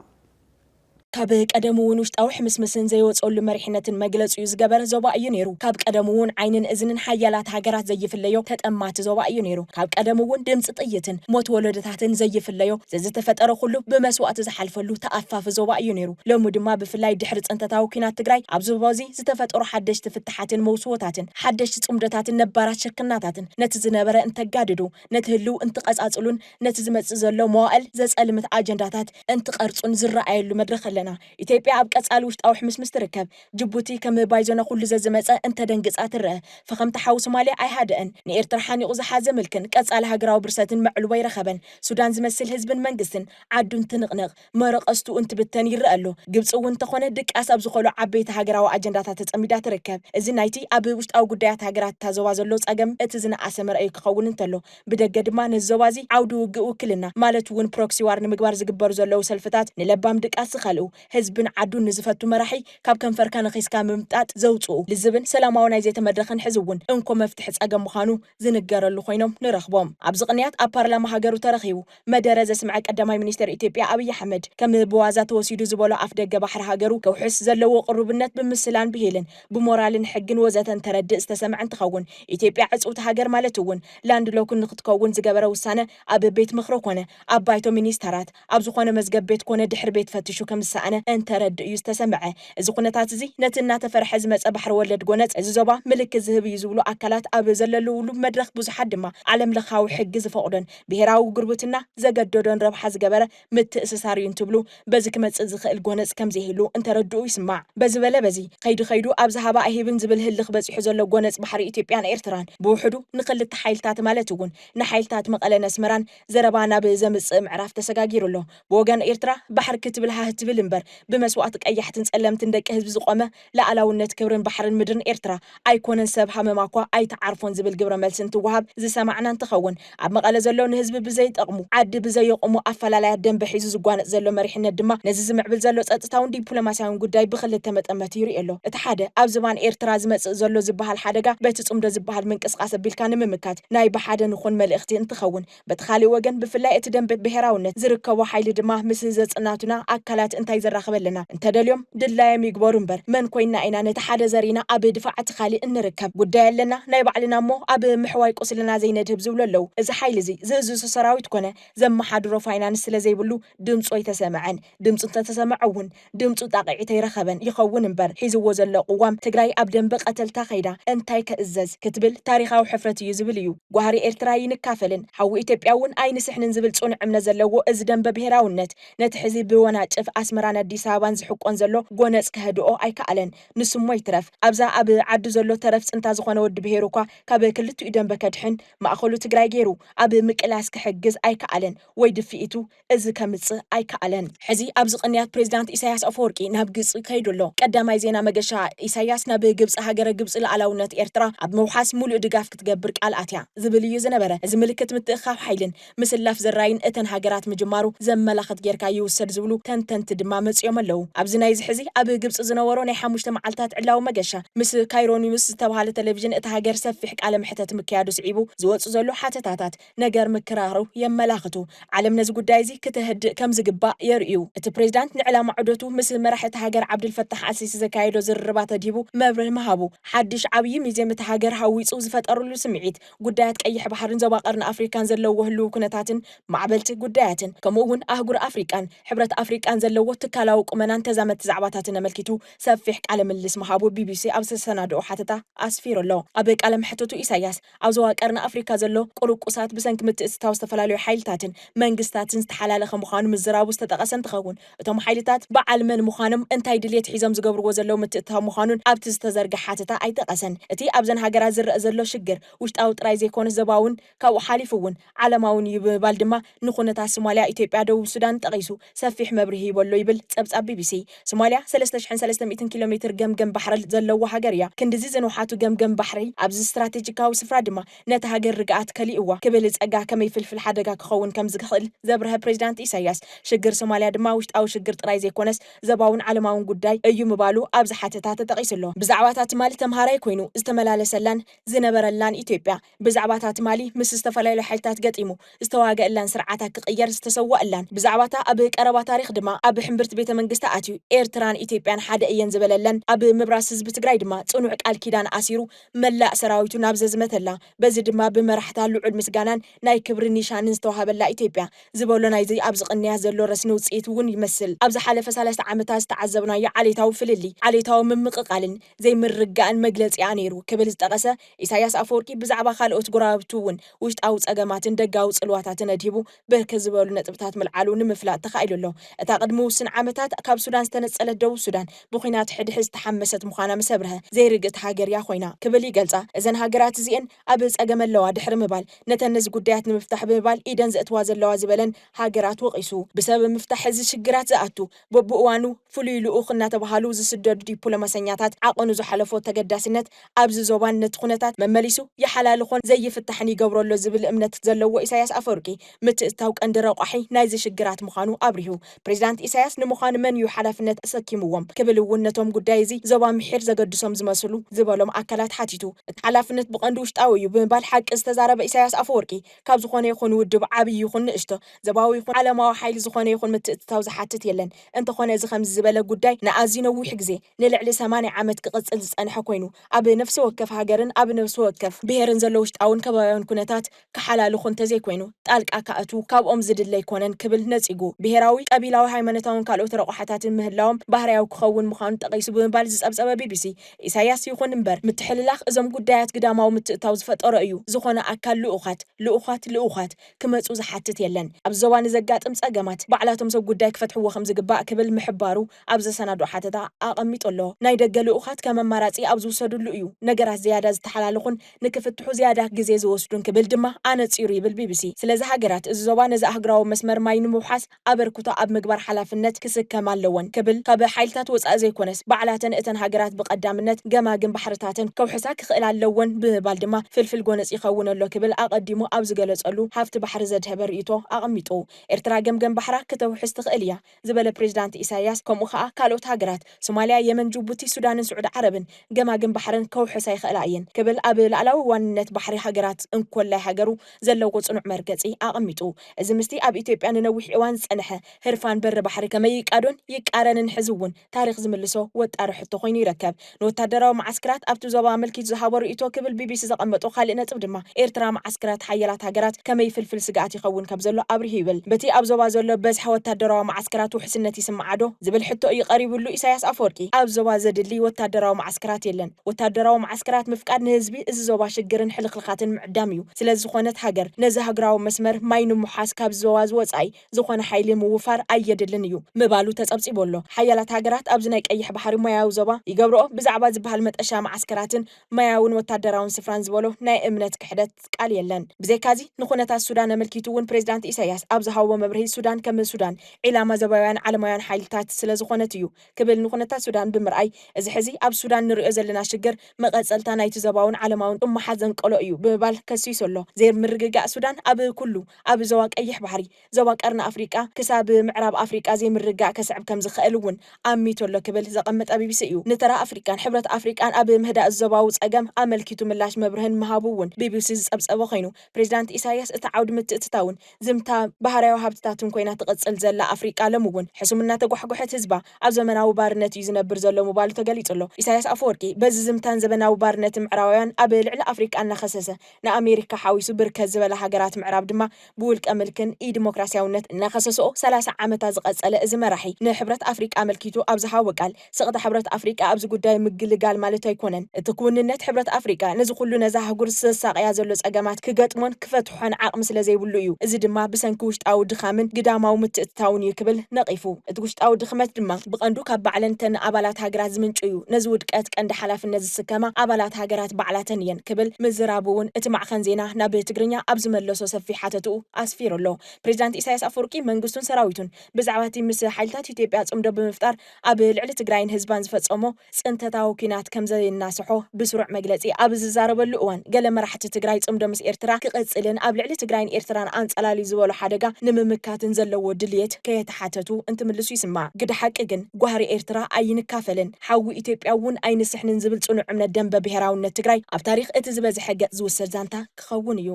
ካብ ቀደሙውን ውሽጣዊ ሕምስምስን ዘይወጸሉ መሪሕነትን መግለጺኡ ዝገበረ ዞባ እዩ ነይሩ። ካብ ቀደሙውን ዓይንን እዝንን ሓያላት ሃገራት ዘይፍለዮ ተጠማቲ ዞባ እዩ ነይሩ። ካብ ቀደሙውን ድምጺ ጥይትን ሞት ወለዶታትን ዘይፍለዮ ዘዝተፈጠረ ኩሉ ብመስዋእቲ ዝሓልፈሉ ተኣፋፊ ዞባ እዩ ነይሩ። ሎሚ ድማ ብፍላይ ድሕሪ ጽንተታዊ ኩናት ትግራይ ኣብዚ ዞባዚ ዝተፈጠሩ ሓደሽቲ ፍታሓትን መውስቦታትን ሓደሽቲ ጽምዶታትን ነባራት ሽርክናታትን ነቲ ዝነበረ እንተጋድዱ ነቲ ህልው እንትቐጻጽሉን ነቲ ዝመጽእ ዘሎ መዋእል ዘጸልምት ኣጀንዳታት እንትቐርጹን ዝረኣየሉ መድረኽ ኣለና። ኢትዮጵያ ኣብ ቀጻሊ ውሽጣዊ ሕምስምስ ትርከብ። ጅቡቲ ከም ባይዞነ ኩሉ ዘዝመጸ እንተደንግጻ ትረኣ። ፈኸምታ ሓው ሶማልያ ኣይሃደኣን። ንኤርትራ ሓኒቑ ዝሓዘ ምልክን ቀጻሊ ሃገራዊ ብርሰትን መዕልቦ ኣይረኸበን። ሱዳን ዝመስል ህዝብን መንግስትን ዓዱን ትንቕንቕ። መረቐስቱ እንትብተን ይረኣ ኣሎ። ግብጺ እውን እንተኾነ ድቃስ ኣብ ዝኾሉ ዓበይቲ ሃገራዊ ኣጀንዳታት ተጸሚዳ ትርከብ። እዚ ናይቲ ኣብ ውሽጣዊ ጉዳያት ሃገራት እታ ዞባ ዘሎ ጸገም እቲ ዝነኣሰ መርኣዩ ክኸውን እንተሎ፣ ብደገ ድማ ነዚ ዞባ እዚ ዓውዲ ውግእ ውክልና ማለት እውን ፕሮክሲ ዋር ንምግባር ዝግበሩ ዘለዉ ሰልፍታት ንለባም ድቃስ ዝኸልኡ፣ ህዝብን ዓዱን ንዝፈቱ መራሒ ካብ ከንፈርካ ነኺስካ ምምጣጥ ዘውጽኡ ልዝብን ሰላማዊ ናይ ዘተ መድረኽን ሕዚ እውን እንኮ መፍትሒ ጸገም ምዃኑ ዝንገረሉ ኮይኖም ንረኽቦም። ኣብዚ ቅንያት ኣብ ፓርላማ ሃገሩ ተረኺቡ መደረ ዘስምዐ ቀዳማይ ሚኒስተር ኢትዮጵያ ኣብይ ኣሕመድ፣ ከም ብዋዛ ተወሲዱ ዝበሎ ኣፍደገ ባሕሪ ሃገሩ ከውሕስ ዘለዎ ቅሩብነት ብምስላን ብሂልን ብሞራልን ሕግን ወዘተ እንተረድእ ዝተሰምዐ እንትኸውን፣ ኢትዮጵያ ዕጽውቲ ሃገር ማለት እውን ላንድ ሎክን ንክትከውን ዝገበረ ውሳነ ኣብ ቤት ምኽሪ ኮነ ኣብ ባይቶ ሚኒስተራት ኣብ ዝኾነ መዝገብ ቤት ኮነ ድሕሪ ቤት ፈትሹ ከምዝሰኣነ እንተረድእ እዩ ዝተሰምዐ። እዚ ኩነታት እዚ ነቲ እናተፈርሐ ዝመጸ ባሕሪ ወለድ ጎነጽ እዚ ዞባ ምልክት ዝህብ እዩ ዝብሉ ኣካላት ኣብ ዘለልውሉ መድረኽ ብዙሓት ድማ ዓለም ለኻዊ ሕጊ ዝፈቕዶን ብሄራዊ ጉርብትና ዘገደዶን ረብሓ ዝገበረ ምትእስሳር እዩ እንትብሉ፣ በዚ ክመጽእ ዝኽእል ጎነጽ ከም ዘይህሉ እንተረድኡ ይስማዕ። በዚ በለ በዚ፣ ከይዲ ከይዱ ኣብዚ ሃባ ኣይህብን ዝብል ህልኽ በጺሑ ዘሎ ጎነጽ ባሕሪ ኢትዮጵያን ኤርትራን፣ ብውሕዱ ንክልተ ሓይልታት ማለት እውን ንሓይልታት መቐለን ኣስመራን ዘረባ ናብ ዘምጽእ ምዕራፍ ተሰጋጊሩ ኣሎ። ብወገን ኤርትራ፣ ባሕር ክትብል ሃህ ትብል እምበር፣ ብመስዋእቲ ቀያሕትን ጸለምትን ደቂ ህዝቢ ዝቖመ ልኣላውነት ክብርን ባሕርን ምድርን ኤርትራ ኣይኮነን ሰብ ሃመማኳ ኣይትዓርፎን ዝብል ግብረ መልሲ እንትወሃብ ዝሰማዕና እንትኸውን ኣብ መቐለ ዘሎ ንህዝቢ ብዘይጠቕሙ ዓዲ ብዘየቑሙ ኣፈላላያት ደንበ ሒዙ ዝጓነፅ ዘሎ መሪሕነት ድማ ነዚ ዝምዕብል ዘሎ ፀጥታውን ዲፕሎማሲያውን ጉዳይ ብኽልተ መጠመቲ ይሪኦ ኣሎ እቲ ሓደ ኣብ ዝባን ኤርትራ ዝመፅእ ዘሎ ዝበሃል ሓደጋ በቲ ፅምዶ ዝበሃል ምንቅስቓስ ኣቢልካ ንምምካት ናይ ብሓደ ንኹን መልእኽቲ እንትኸውን በቲ ካሊእ ወገን ብፍላይ እቲ ደምበ ብሄራውነት ዝርከቦ ሓይሊ ድማ ምስ ዘጽናቱና ኣካላት እንታይ ዘራኽበልና እንተደልዮም ድላዮም ይግበሩ እምበር መን ኮይንና ኢና ነቲ ሓደ ዘሪእና ኣብ ድፋዕ እቲ ካሊእ እንርከብ ጉዳይ ኣለና ናይ ባዕልና እሞ ኣብ ምሕዋይ ቁስልና ዘይነድህብ ዝብሉ ኣለው እዚ ሓይሊ እዚ ዝእዝዞ ሰራዊት ኮነ ዘመሓድሮ ፋይናንስ ስለዘይብሉ ድምጹ ኣይተሰመዐን ድምጹ እንተተሰመዐ እውን ድምፁ ጣቕዒት ኣይረኸበን ይኸውን እምበር ሒዝዎ ዘሎ ቕዋም ትግራይ ኣብ ደምበ ቐተልታ ከይዳ እንታይ ክእዘዝ ክትብል ታሪኻዊ ሕፍረት እዩ ዝብል እዩ። ጓህሪ ኤርትራ ኣይንካፈልን ሓዊ ኢትዮጵያ እውን ኣይንስሕንን ዝብል ፅኑዕ እምነት ዘለዎ እዚ ደምበ ብሄራውነት ነቲ ሕዚ ብወናጭፍ ኣስመራን ኣዲስ ኣበባን ዝሕቆን ዘሎ ጎነፅ ከህድኦ ኣይከኣለን። ንሱሞ ይትረፍ ኣብዛ ኣብ ዓዱ ዘሎ ተረፍ ፅንታ ዝኾነ ወዲ ብሄሩ እኳ ካብ ክልቲኡ ደምበ ከድሕን ማእኸሉ ትግራይ ገይሩ ኣብ ምቅላስ ክሕግዝ ኣይከኣለን ወይ ድፍኢቱ እዚ ከምጽእ ኣይከኣለን። ሕዚ ኣብዚ ቅንያት ፕሬዚዳንት ኢሳያስ ኣፈወርቂ ናብ ግጽ ከይዱ ኣሎ። ቀዳማይ ዜና መገሻ ኢሳያስ ናብ ግብጺ ሃገረ ግብጺ ልኣላውነት ኤርትራ ኣብ ምውሓስ ሙሉእ ድጋፍ ክትገብር ቃል ኣትያ ዝብል እዩ ዝነበረ። እዚ ምልክት ምትእኽኻብ ሓይልን ምስላፍ ዘራይን እተን ሃገራት ምጅማሩ ዘመላኽት ጌርካ ይውሰድ ዝብሉ ተንተንቲ ድማ መጺኦም ኣለው። ኣብዚ ናይዚ ሕዚ ኣብ ግብጺ ዝነበሮ ናይ ሓሙሽተ መዓልታት ዕላዊ መገሻ ምስ ካይሮኒውስ ዝተብሃለ ተለቪዥን እታ ሃገር ሰፊሕ ቃለ መሕተት ምክያዱ ስዒቡ ዝወጽእ ዘሎ ሓተታታት ነገር ምክራሩ የመላኽቱ። ዓለም ነዚ ጉዳይ እዚ ክተህድእ ከም ዝግባእ የርእዩ። እቲ ፕሬዚዳንት ንዕላማ ዑደቱ ምስ መራሒ እታ ሃገር ዓብደልፈታሕ ኣልሲሲ ዘካየዶ ዝርርባት ኣድሂቡ መብርሂ ምሃቡ፣ ሓዱሽ ዓብዪ ሚዜም እታ ሃገር ሃዊፁ ዝፈጠርሉ ስምዒት፣ ጉዳያት ቀይሕ ባሕርን ዞባ ቀርኒ ኣፍሪካን ዘለዎ ህልዊ ኩነታትን ማዕበልቲ ጉዳያትን ከምኡ እውን ኣህጉር ኣፍሪቃን ሕብረት ኣፍሪቃን ዘለዎ ትካላዊ ቁመናን ተዛመድቲ ዛዕባታትን ኣመልኪቱ ሰፊሕ ቃለ ምልልስ ምሃቡ ቢቢሲ ኣብ ዘሰናደኦ ሓተታ ኣስፊሩ ኣሎ። ኣብ ቃለ መሕትቱ ኢሳያስ ኣብ ዞባ ቀርኒ ኣፍሪካ ዘሎ ቁርቁሳት ብሰንኪ ምትእትታው ዝተፈላለዩ ሓይልታትን መንግስታትን ዝተሓላለኸ ምዃኑ ምዝራቡ ዝተጠቐሰ እንትኸውን፣ እቶም ሓይልታት በዓል መን ምዃኖም፣ እንታይ ድልየት ሒዞም ዝገብርዎ ዘለው ምትእትታው ምዃኑን ኣብቲ ዝተዘርገ ሓተታ ኣይጠቐሰን። እቲ ኣብዘን ሃገራት ዝረእ ዘሎ ሽግር ውሽጣዊ ጥራይ ዘይኮነስ ዞባውን ካብኡ ሓሊፉ እውን፣ ዓለማዊ ን እዩ ብምባል ድማ ንኩነታት ሱማሊያ፣ ኢትዮጵያ፣ ደቡብ ሱዳንን ጠቒሱ ሰፊሕ መብርሂ ሂቡ ኣሎ ይብል ጸብጻብ ቢቢሲ። ሱማሊያ ሰለስተ ሽሕን ሰለስተ ሚእትን ኪሎ ሜትር ገምገም ባሕርል ዘለዋ ሃገር እያ። ክንድዚ ዝንውሓቱ ገምገም ባሕሪ፣ ኣብዚ ስትራቴጂካዊ ስፍራ ድማ ነታ ሃገር ርግኣት ከሊኡዋ ክብል ጸጋ ከመይ ፍልፍል ሓደጋ ክኸውን ከምዝክኽእል ዘብረሀ ፕሬዚዳንት ኢሳይያስ፣ ሽግር ሱማሊያ ድማ ውሽጣዊ ሽግር ጥራይ ዘይኮነስ ዘባውን ዓለማውን ጉዳይ እዩ ምባሉ ኣብዚ ሓተታ ተጠቒሱ ኣሎ። ብዛዕባ እታ ትማል ተምሃራይ ኮይኑ ዝተመላለሰላን ዝነበረላን ኢትዮጵያ፣ ብዛዕባ'ታ ትማሊ ምስ ዝተፈላለዩ ሓይልታት ገጢሙ ዝተዋገእላን ስርዓታ ክቕየር ዝተሰዋእላን፣ ብዛዕባ'ታ ኣብ ቀረባ ታሪኽ ድማ ኣብ ሕምብርቲ ቤተ መንግስታ ኣትዩ ኤርትራን ኢትዮጵያን ሓደ እየን ዝበለለን፣ ኣብ ምብራስ ህዝቢ ትግራይ ድማ ጽኑዕ ቃል ኪዳን ኣሲሩ መላእ ሰራዊቱ ናብ ዘዝመተላ፣ በዚ ድማ ብመራሕታ ልዑል ምስጋናን ናይ ክብሪ ኒሻንን ዝተዋሃበላ ኢትዮጵያ ዝበሎ ናይዚ ኣብዚ ቅንያት ዘሎ ረስኒ ውጽኢት እውን ይመስል። ኣብ ዝሓለፈ ሰለስተ ዓመታት ዝተዓዘብናዮ ዓሌታዊ ፍልልይ፣ ዓሌታዊ ምምቕቓልን ዘይምርግጋእን መግለጺኣ ነይሩ ክብል ዝጠቐሰ ኢሳይያስ ኣፈወርቂ ብዛዕባ ካልኦት ጎረባብቱ እውን ውሽጣዊ ጸገማትን ደጋዊ ጽልዋታትን ኣድሂቡ ብርክት ዝበሉ ነጥብታት ምልዓሉ ንምፍላጥ ተኻኢሉ ኣሎ። እታ ቅድሚ ውሱን ዓመታት ካብ ሱዳን ዝተነጸለት ደቡብ ሱዳን ብኲናት ሕድሕድ ዝተሓመሰት ምዃና ምስ ኣብርሀ፣ ዘይርግእቲ ሃገር እያ ኮይና ክብል ይገልጻ። እዘን ሃገራት እዚኤን ኣብ ጸገም ኣለዋ ድሕሪ ምባል፣ ነተን ነዚ ጉዳያት ንምፍታሕ ብምባል ኢደን ዘእትዋ ዘለዋ ዝበለን ሃገራት ወቒሱ። ብሰበብ ምፍታሕ እዚ ሽግራት ዝኣቱ በብእዋኑ ፍሉይ ልኡኽ እናተብሃሉ ዝስደዱ ዲፕሎማሰኛታት ዓቐኑ ዝሓለፎ ተገዳስነት ኣብዚ ዞባን ነቲ ኩነታት መመሊሱ ይሓላልኾን ዘይፍታሕን ይገብሮ ኣሎ ዝብል እምነት ዘለዎ ኢሳይያስ ኣፈወርቂ ምትእትታው ቀንዲ ረቋሒ ናይዚ ሽግራት ምዃኑ ኣብሪሁ። ፕሬዚዳንት ኢሳይያስ ንምዃን መን እዩ ሓላፍነት ኣሰኪምዎም ክብል እውን ነቶም ጉዳይ እዚ ዞባ ምሒር ዘገድሶም ዝመስሉ ዝበሎም ኣካላት ሓቲቱ እቲ ሓላፍነት ብቐንዱ ውሽጣዊ እዩ ብምባል ሓቂ ዝተዛረበ ኢሳይያስ ኣፈወርቂ ካብ ዝኾነ ይኹን ውድብ ዓብይ ይኹን ንእሽቶ፣ ዘባዊ ይኹን ዓለማዊ ሓይሊ ዝኾነ ይኹን ምትእትታው ዝሓትት የለን። እንተኾነ እዚ ከምዚ ዝበለ ጉዳይ ንኣዝዩ ነዊሕ ግዜ፣ ንልዕሊ ሰማንያ ዓመት ክቕጽል ዝጸንሐ ኮይኑ፣ ኣብ ነፍሲ ወከፍ ሃገርን ኣብ ነፍሲ ወከፍ ብሄርን ዘሎ ውሽጣውን ከባብያውን ኩነታት ክሓላልኹ እንተዘይኮይኑ ጣልቃ ክኣትዉ ካብኦም ዝድለ ኣይኮነን ክብል ነጺጉ። ብሄራዊ፣ ቀቢላዊ፣ ሃይማኖታውን ካልኦት ረቑሓታትን ምህላዎም ባህርያዊ ክኸውን ምዃኑ ጠቒሱ ብምባል ዝጸብጸበ ቢቢሲ፣ ኢሳያስ ይኹን እምበር ምትሕልላኽ እዞም ጉዳያት ግዳማዊ ምትእታው ዝፈጠሮ እዩ። ዝኾነ ኣካል ልኡኻት፣ ልኡዃት፣ ልኡዃት፣ ክመጹ ዝሓትት የለን። ኣብዚ ዞባ ንዘጋጥም ጸገማት ባዕላቶም ሰብ ጉዳይ ክፈትሕዎ ከምዝግባእ ክብል ምሕባሩ ኣብ ዘሰናድኦ ሓተታ ኣቐሚጡ ኣሎ። ናይ ደገ ልኡኻት ከም ኣማራጺ ኣብ ዝውሰድሉ እዩ ነገራት ዝያዳ ዝተሓላለኹን ንክፍትሑ ዝያዳ ግዜ ዝወስዱን ክብል ድማ ኣነጺሩ ይብል ቢቢሲ። ስለዚ ሃገራት እዚ ዞባ ነዚ ኣህጉራዊ መስመር ማይ ንምውሓስ ኣበርክቶ ኣብ ምግባር ሓላፍነት ክስከማ ኣለወን ክብል ካብ ሓይልታት ወፃኢ ዘይኮነስ ባዕላተን እተን ሃገራት ብቀዳምነት ገማግም ባሕርታተን ከውሕሳ ክኽእላ ኣለወን ብምባል ድማ ፍልፍል ጎነፅ ይኸውን ኣሎ ክብል ኣቀዲሙ ኣብ ዝገለፀሉ ሃፍቲ ባሕሪ ዘድሀበ ርኢቶ ኣቀሚጡ። ኤርትራ ገምገም ባሕራ ክተውሕስ ትኽእል እያ ዝበለ ፕሬዚዳንት ኢሳይያስ ከምኡ ከዓ ካልኦት ሃገራት ሱማሊያ የመን ጁቡቲ ሱዳንን ስዑዲ ዓረብን ገማግም ባሕረን ከውሕሳ ይኽእላ እየን ክብል ኣብ ላእላዊ ዋንነት ባሕሪ ሃገራት እንኮላይ ሃገሩ ዘለዎ ጽኑዕ መርገጺ ኣቐሚጡ። እዚ ምስቲ ኣብ ኢትዮጵያ ንነዊሕ እዋን ዝጸንሐ ህርፋን በሪ ባሕሪ ከመይ ይቃዶን ይቃረንን ሕዚ እውን ታሪኽ ዝምልሶ ወጣሪ ሕቶ ኮይኑ ይረከብ። ንወታደራዊ መዓስክራት ኣብቲ ዞባ ኣመልኪቱ ዝሃቦ ርእይቶ ክብል ቢቢሲ ዘቐመጦ ካልእ ነጥብ ድማ ኤርትራ መዓስክራት ሓያላት ሃገራት ከመይ ፍልፍል ስግኣት ይኸውን ከም ዘሎ ኣብሪሁ ይብል። በቲ ኣብ ዞባ ዘሎ በዝሒ ወታደራዊ መዓስከራት ውሕስነት ይስምዓዶ? ዝብል ሕቶ እዩ ቀሪብሉ ኢሳይያስ ኣፈወርቂ ኣብ ዞባ ዘድሊ ወታደራዊ መዓስከራት የለን፣ ወታደራዊ መዓስከራት ምፍቃድ ንህዝቢ እዚ ዞባ ሽግርን ሕልኽልኻትን ምዕዳም እዩ። ስለ ዝኾነት ሃገር ነዚ ሃግራዊ መስመር ማይ ንምውሓስ ካብዚ ዞባ እዚ ወጻኢ ዝኾነ ሓይሊ ምውፋር ኣየድልን እዩ ምባሉ ተጸብጺቡ ኣሎ። ሓያላት ሃገራት ኣብዚ ናይ ቀይሕ ባሕሪ ማያዊ ዞባ ይገብርኦ ብዛዕባ ዝበሃል መጠሻ መዓስከራትን ማያውን ወታደራውን ስፍራን ዝበሎ ናይ እምነት ክሕደት ቃል የለን። ብዘይካዚ ንኹነታት ሱዳን ኣመልኪቱ እውን ፕሬዚዳንት ኢሳይያስ ኣብ ዝሃቦ መብርሂ ሱዳን ከም ሱዳን ዒላማ ዞባውያን ዓለማውያን ሓይልታት ስለ ዝኾነት እዩ ክብል ንኩነታት ሱዳን ብምርኣይ እዚ ሕዚ ኣብ ሱዳን ንሪኦ ዘለና ሽግር መቐፀልታ ናይቲ ዞባውን ዓለማውን እማሓ ዘንቀሎ እዩ ብምባል ከሲሱ ኣሎ። ዘይምርግጋእ ሱዳን ኣብ ኩሉ ኣብ ዞባ ቀይሕ ባሕሪ፣ ዞባ ቀርኒ ኣፍሪቃ ክሳብ ምዕራብ ኣፍሪቃ ዘይምርግጋእ ከስዕብ ከምዝኸእል እውን ኣሚቱ ኣሎ ክብል ዘቐመጠ ቢቢሲ እዩ። ንተራ ኣፍሪቃን ሕብረት ኣፍሪቃን ኣብ ምህዳእ ዞባዊ ፀገም ኣመልኪቱ ምላሽ መብርህን ምሃቡ እውን ቢቢሲ ዝፀብፀቦ ኮይኑ ፕሬዚዳንት ኢሳይያስ እቲ ዓውዲ ምትእትታውን ዝምታ ባህርያዊ ሃብትታትን ኮይና ትቕጽል ዘላ ኣፍሪቃ ሎሚ'ውን ሕሱም እናተጓሕጎሐት ህዝባ ኣብ ዘመናዊ ባርነት እዩ ዝነብር ዘሎ ምባሉ ተገሊጹ ኣሎ። ኢሳይያስ ኣፈወርቂ በዚ ዝምታን ዘበናዊ ባርነትን ምዕራባውያን ኣብ ልዕሊ ኣፍሪቃ እናኸሰሰ ንኣሜሪካ ሓዊሱ ብርከት ዝበላ ሃገራት ምዕራብ ድማ ብውልቀ ምልክን ኢዲሞክራስያውነት እናኸሰስኦ ሰላሳ ዓመታ ዝቐጸለ እዚ መራሒ ንሕብረት ኣፍሪቃ ኣመልኪቱ ኣብ ዝሃቦ ቃል ስቕታ ሕብረት ኣፍሪቃ ኣብዚ ጉዳይ ምግልጋል ማለት ኣይኮነን። እቲ ክውንነት ሕብረት ኣፍሪቃ ነዚ ኩሉ ነዛ ኣህጉር ዘሳቕያ ዘሎ ጸገማት ክገጥሞን ክፈትሖን ዓቕሚ ስለ ዘይብሉ እዩ። እዚ ድማ ብሰንኪ ውሽጣዊ ድኻምን ግዳማዊ ምትእትታውን እዩ ክብል ነቒፉ። እቲ ውሽጣዊ ድኽመት ድማ ብቐንዱ ካብ ባዕለን እተን ኣባላት ሃገራት ዝምንጩ እዩ። ነዚ ውድቀት ቀንዲ ሓላፍነት ዝስከማ ኣባላት ሃገራት ባዕላተን እየን ክብል ምዝራቡ'ውን እቲ ማዕኸን ዜና ናብ ትግርኛ ኣብ ዝመለሶ ሰፊሕ ሓተትኡ ኣስፊሩ ኣሎ። ፕሬዚዳንት ኢሳይያስ ኣፈወርቂ መንግስቱን ሰራዊቱን ብዛዕባ'ቲ ምስ ሓይልታት ኢትዮጵያ ጽምዶ ብምፍጣር ኣብ ልዕሊ ትግራይን ህዝባን ዝፈፀሞ ፅንተታዊ ኲናት ከምዘየናሰሖ ብስሩዕ መግለፂ ኣብ ዝዛረበሉ እዋን ገለ መራሕቲ ትግራይ ፅምዶ ምስ ኤርትራ ክቕፅልን ኣብ ልዕሊ ትግራይን ኤርትራን ኣንፀላልዩ ዝበሎ ሓደጋ ንምምካትን ዘለዎ ድልየት ከየተሓተቱ እንትምልሱ ይስማዕ። ግደ ሓቂ ግን ጓህሪ ኤርትራ ኣይንካፈልን ሓዊ ኢትዮጵያ እውን ኣይንስሕንን ዝብል ፅኑዕ እምነት ደምበ ብሄራዊነት ትግራይ ኣብ ታሪኽ እቲ ዝበዝሐ ገፅ ዝውሰድ ዛንታ ክኸውን እዩ።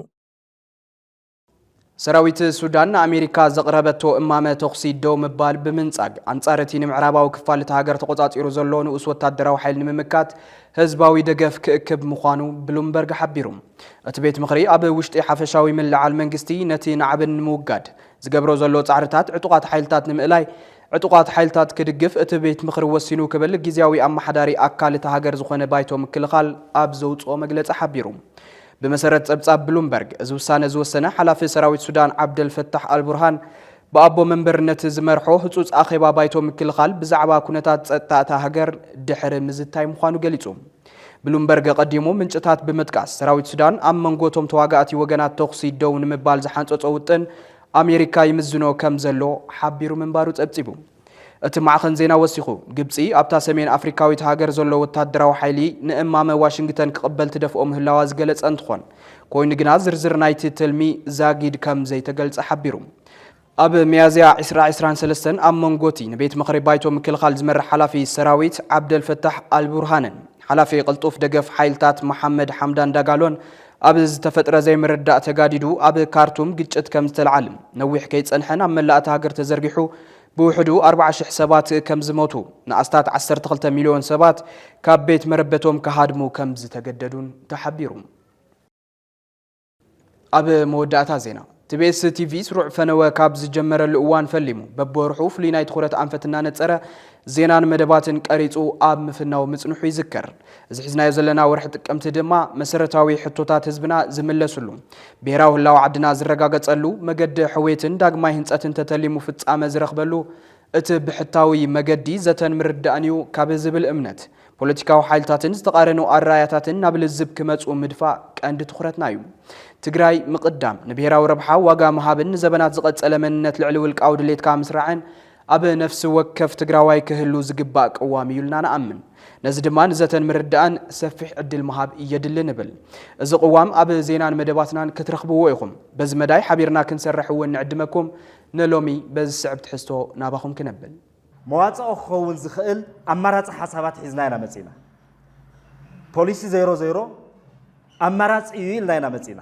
ሰራዊት ሱዳን ንኣሜሪካ ዘቕረበቶ እማመ ተኹሲ ደው ምባል ብምንጻግ ኣንጻር እቲ ንምዕራባዊ ክፋል እቲ ሃገር ተቖጻጺሩ ዘሎ ንኡስ ወታደራዊ ሓይል ንምምካት ህዝባዊ ደገፍ ክእክብ ምዃኑ ብሉምበርግ ሓቢሩ። እቲ ቤት ምኽሪ ኣብ ውሽጢ ሓፈሻዊ ምልዕዓል መንግስቲ ነቲ ናዕብን ንምውጋድ ዝገብሮ ዘሎ ጻዕርታት ዕጡቓት ሓይልታት ንምእላይ ዕጡቓት ሓይልታት ክድግፍ እቲ ቤት ምኽሪ ወሲኑ ክብል ግዜያዊ ኣመሓዳሪ ኣካል እታ ሃገር ዝኾነ ባይቶ ምክልኻል ኣብ ዘውጽኦ መግለጺ ሓቢሩ። ብመሰረት ጸብጻብ ብሉምበርግ፣ እዚ ውሳነ ዝወሰነ ሓላፊ ሰራዊት ሱዳን ዓብደል ፈታሕ ኣልቡርሃን፣ ብኣቦ መንበርነት ዝመርሖ ህጹጽ ኣኼባ ባይቶ ምክልኻል ብዛዕባ ኩነታት ጸጥታ እታ ሃገር ድሕሪ ምዝታይ ምዃኑ ገሊጹ። ብሉምበርግ ኣቐዲሙ ምንጭታት ብምጥቃስ፣ ሰራዊት ሱዳን ኣብ መንጎ እቶም ተዋጋእቲ ወገናት ተኹሲ ደው ንምባል ዝሓንጸጾ ውጥን ኣሜሪካ ይምዝኖ ከምዘሎ ሓቢሩ ምንባሩ ጸብጺቡ። እቲ ማዕኸን ዜና ወሲኹ፣ ግብጺ ኣብታ ሰሜን ኣፍሪካዊት ሃገር ዘሎ ወታደራዊ ሓይሊ ንእማመ ዋሽንግተን ክቕበል ትደፍኦ ምህላዋ ዝገለጸ እንትኾን፣ ኮይኑ ግና ዝርዝር ናይቲ ትልሚ ዛጊድ ከም ዘይተገልጸ ሓቢሩ። ኣብ ሚያዝያ ዕስራ ዕስራን ሰለስተን ኣብ መንጎቲ ንቤት ምኽሪ ባይቶ ምክልኻል ዝመርሕ ሓላፊ ሰራዊት ዓብደልፈታሕ ኣልቡርሃንን ሓላፊ ቅልጡፍ ደገፍ ሓይልታት መሓመድ ሓምዳን ዳጋሎን ኣብ ዝተፈጥረ ዘይምርዳእ ተጋዲዱ ኣብ ካርቱም ግጭት ከም ዝተልዓል ነዊሕ ከይጸንሐ ናብ መላእ እታ ሃገር ተዘርጊሑ ብውሕዱ ኣርባዓ ሽሕ ሰባት ከም ዝሞቱ ንኣስታት ዓሰርተ ክልተ ሚልዮን ሰባት ካብ ቤት መረበቶም ክሃድሙ ከም ዝተገደዱን ተሓቢሩ። ኣብ መወዳእታ ዜና ትቤስ ቲቪ ስሩዕ ፈነወ ካብ ዝጀመረሉ እዋን ፈሊሙ በብወርሑ ፍሉይ ናይ ትኹረት ኣንፈት እናነፀረ ዜናን መደባትን ቀሪፁ ኣብ ምፍናው ምፅንሑ ይዝከር። እዚ ሒዝናዮ ዘለና ወርሒ ጥቅምቲ ድማ መሰረታዊ ሕቶታት ህዝብና ዝምለስሉ፣ ብሄራዊ ህላወ ዓድና ዝረጋገፀሉ፣ መገዲ ሕውየትን ዳግማይ ህንፀትን ተተሊሙ ፍፃመ ዝረኽበሉ እቲ ብሕታዊ መገዲ ዘተን ምርድዳእን እዩ ካብ ዝብል እምነት ፖለቲካዊ ሓይልታትን ዝተቓረኑ ኣረኣያታትን ናብ ልዝብ ክመፁ ምድፋእ ቀንዲ ትኹረትና እዩ። ትግራይ ምቕዳም፣ ንብሄራዊ ረብሓ ዋጋ ምሃብን ንዘበናት ዝቐፀለ መንነት ልዕሊ ውልቃዊ ድሌትካ ምስራዕን ኣብ ነፍሲ ወከፍ ትግራዋይ ክህሉ ዝግባእ ቅዋም እዩ ኢልና ንኣምን። ነዚ ድማ ንዘተን ምርዳእን ሰፊሕ ዕድል ምሃብ የድሊ ንብል። እዚ ቅዋም ኣብ ዜናን መደባትናን ክትረኽብዎ ኢኹም። በዚ መዳይ ሓቢርና ክንሰርሕ እውን ንዕድመኩም። ንሎሚ በዚ ዝስዕብ ትሕዝቶ ናባኹም ክነብል። መዋጽኦ ክኸውን ዝኽእል ኣማራጺ ሓሳባት ሒዝና ኢና መጺእና። ፖሊሲ ዜሮ ዜሮ ኣማራጺ እዩ ኢልና ኢና መጺእና።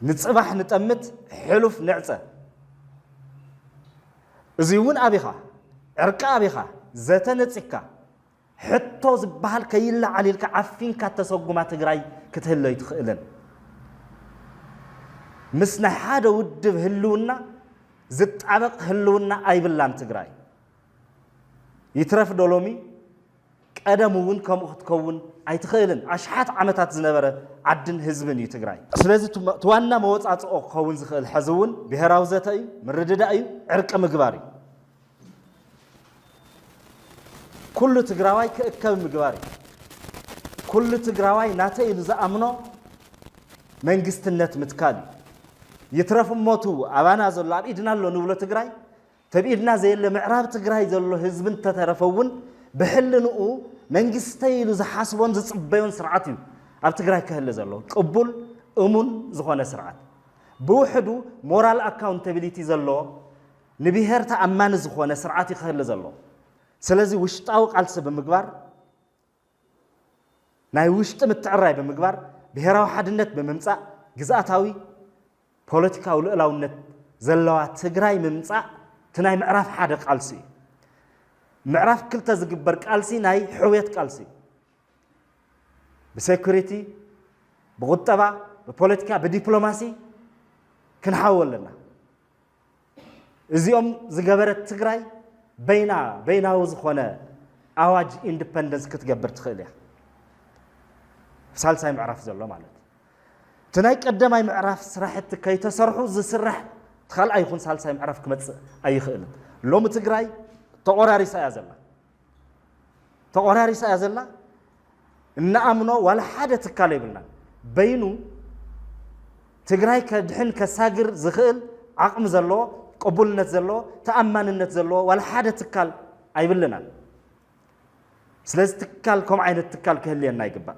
ንጽባሕ ንጠምት ሕሉፍ ንዕጸ። እዚውን ኣብኻ ዕርቂ ኣብኻ ዘተ ነጺግካ ሕቶ ዝበሃል ከይለዓል ኢልካ ዓፊንካ እተሰጉማ ትግራይ ክትህሉ ኣይትኽእልን። ምስ ናይ ሓደ ውድብ ህልውና ዝጣበቕ ህልውና ኣይብላን ትግራይ። ይትረፍ ዶ ሎሚ ቀደም እውን ከምኡ ክትከውን ኣይትኽእልን። ኣሽሓት ዓመታት ዝነበረ ዓድን ህዝብን እዩ ትግራይ። ስለዚ እቲ ዋና መወፃፅኦ ክኸውን ዝኽእል ሕዚ እውን ብሄራዊ ዘተ እዩ፣ ምርድዳእ እዩ፣ ዕርቂ ምግባር እዩ። ኩሉ ትግራዋይ ክእከብ ምግባር እዩ። ኩሉ ትግራዋይ ናተይ ኢሉ ዝኣምኖ መንግስትነት ምትካል እዩ። ይትረፍ እሞቱ ኣባና ዘሎ ኣብ ኢድና ኣሎ ንብሎ ትግራይ ተብኢድና ዘየለ ምዕራብ ትግራይ ዘሎ ህዝቢ እንተተረፈ እውን ብሕልንኡ መንግስተይ ኢሉ ዝሓስቦን ዝፅበዮን ስርዓት እዩ ኣብ ትግራይ ክህሊ ዘሎ ቅቡል እሙን ዝኾነ ስርዓት ብውሕዱ ሞራል ኣካውንታቢሊቲ ዘለዎ ንብሄር ተኣማኒ ዝኾነ ስርዓት እዩ ክህሊ ዘለዎ። ስለዚ ውሽጣዊ ቃልሲ ብምግባር፣ ናይ ውሽጢ ምትዕርራይ ብምግባር፣ ብሄራዊ ሓድነት ብምምፃእ ግዝኣታዊ ፖለቲካዊ ልኡላውነት ዘለዋ ትግራይ ምምፃእ እቲ ናይ ምዕራፍ ሓደ ቃልሲ እዩ። ምዕራፍ ክልተ ዝግበር ቃልሲ ናይ ሕውየት ቃልሲ እዩ። ብሴኩሪቲ፣ ብቁጠባ፣ ብፖለቲካ፣ ብዲፕሎማሲ ክንሓው ኣለና። እዚኦም ዝገበረት ትግራይ በይና በይናዊ ዝኾነ ኣዋጅ ኢንዲፐንደንስ ክትገብር ትኽእል እያ። ሳልሳይ ምዕራፍ ዘሎ ማለት እዩ። እቲ ናይ ቀዳማይ ምዕራፍ ስራሕቲ ከይተሰርሑ ዝስራሕ እቲ ካልኣይ ይኹን ሳልሳይ ምዕራፍ ክመፅእ ኣይኽእልን። ሎሚ ትግራይ ተቆራሪሳ እያ ዘላ። ተቆራሪሳ እያ ዘላ እንኣምኖ ዋላ ሓደ ትካል የብልናን በይኑ ትግራይ ከድሕን ከሳግር ዝኽእል ዓቕሚ ዘለዎ ቅቡልነት ዘለዎ ተኣማንነት ዘለዎ ዋላ ሓደ ትካል ኣይብልናን ስለዚ ትካል ከምኡ ዓይነት ትካል ክህልየና ይግባእ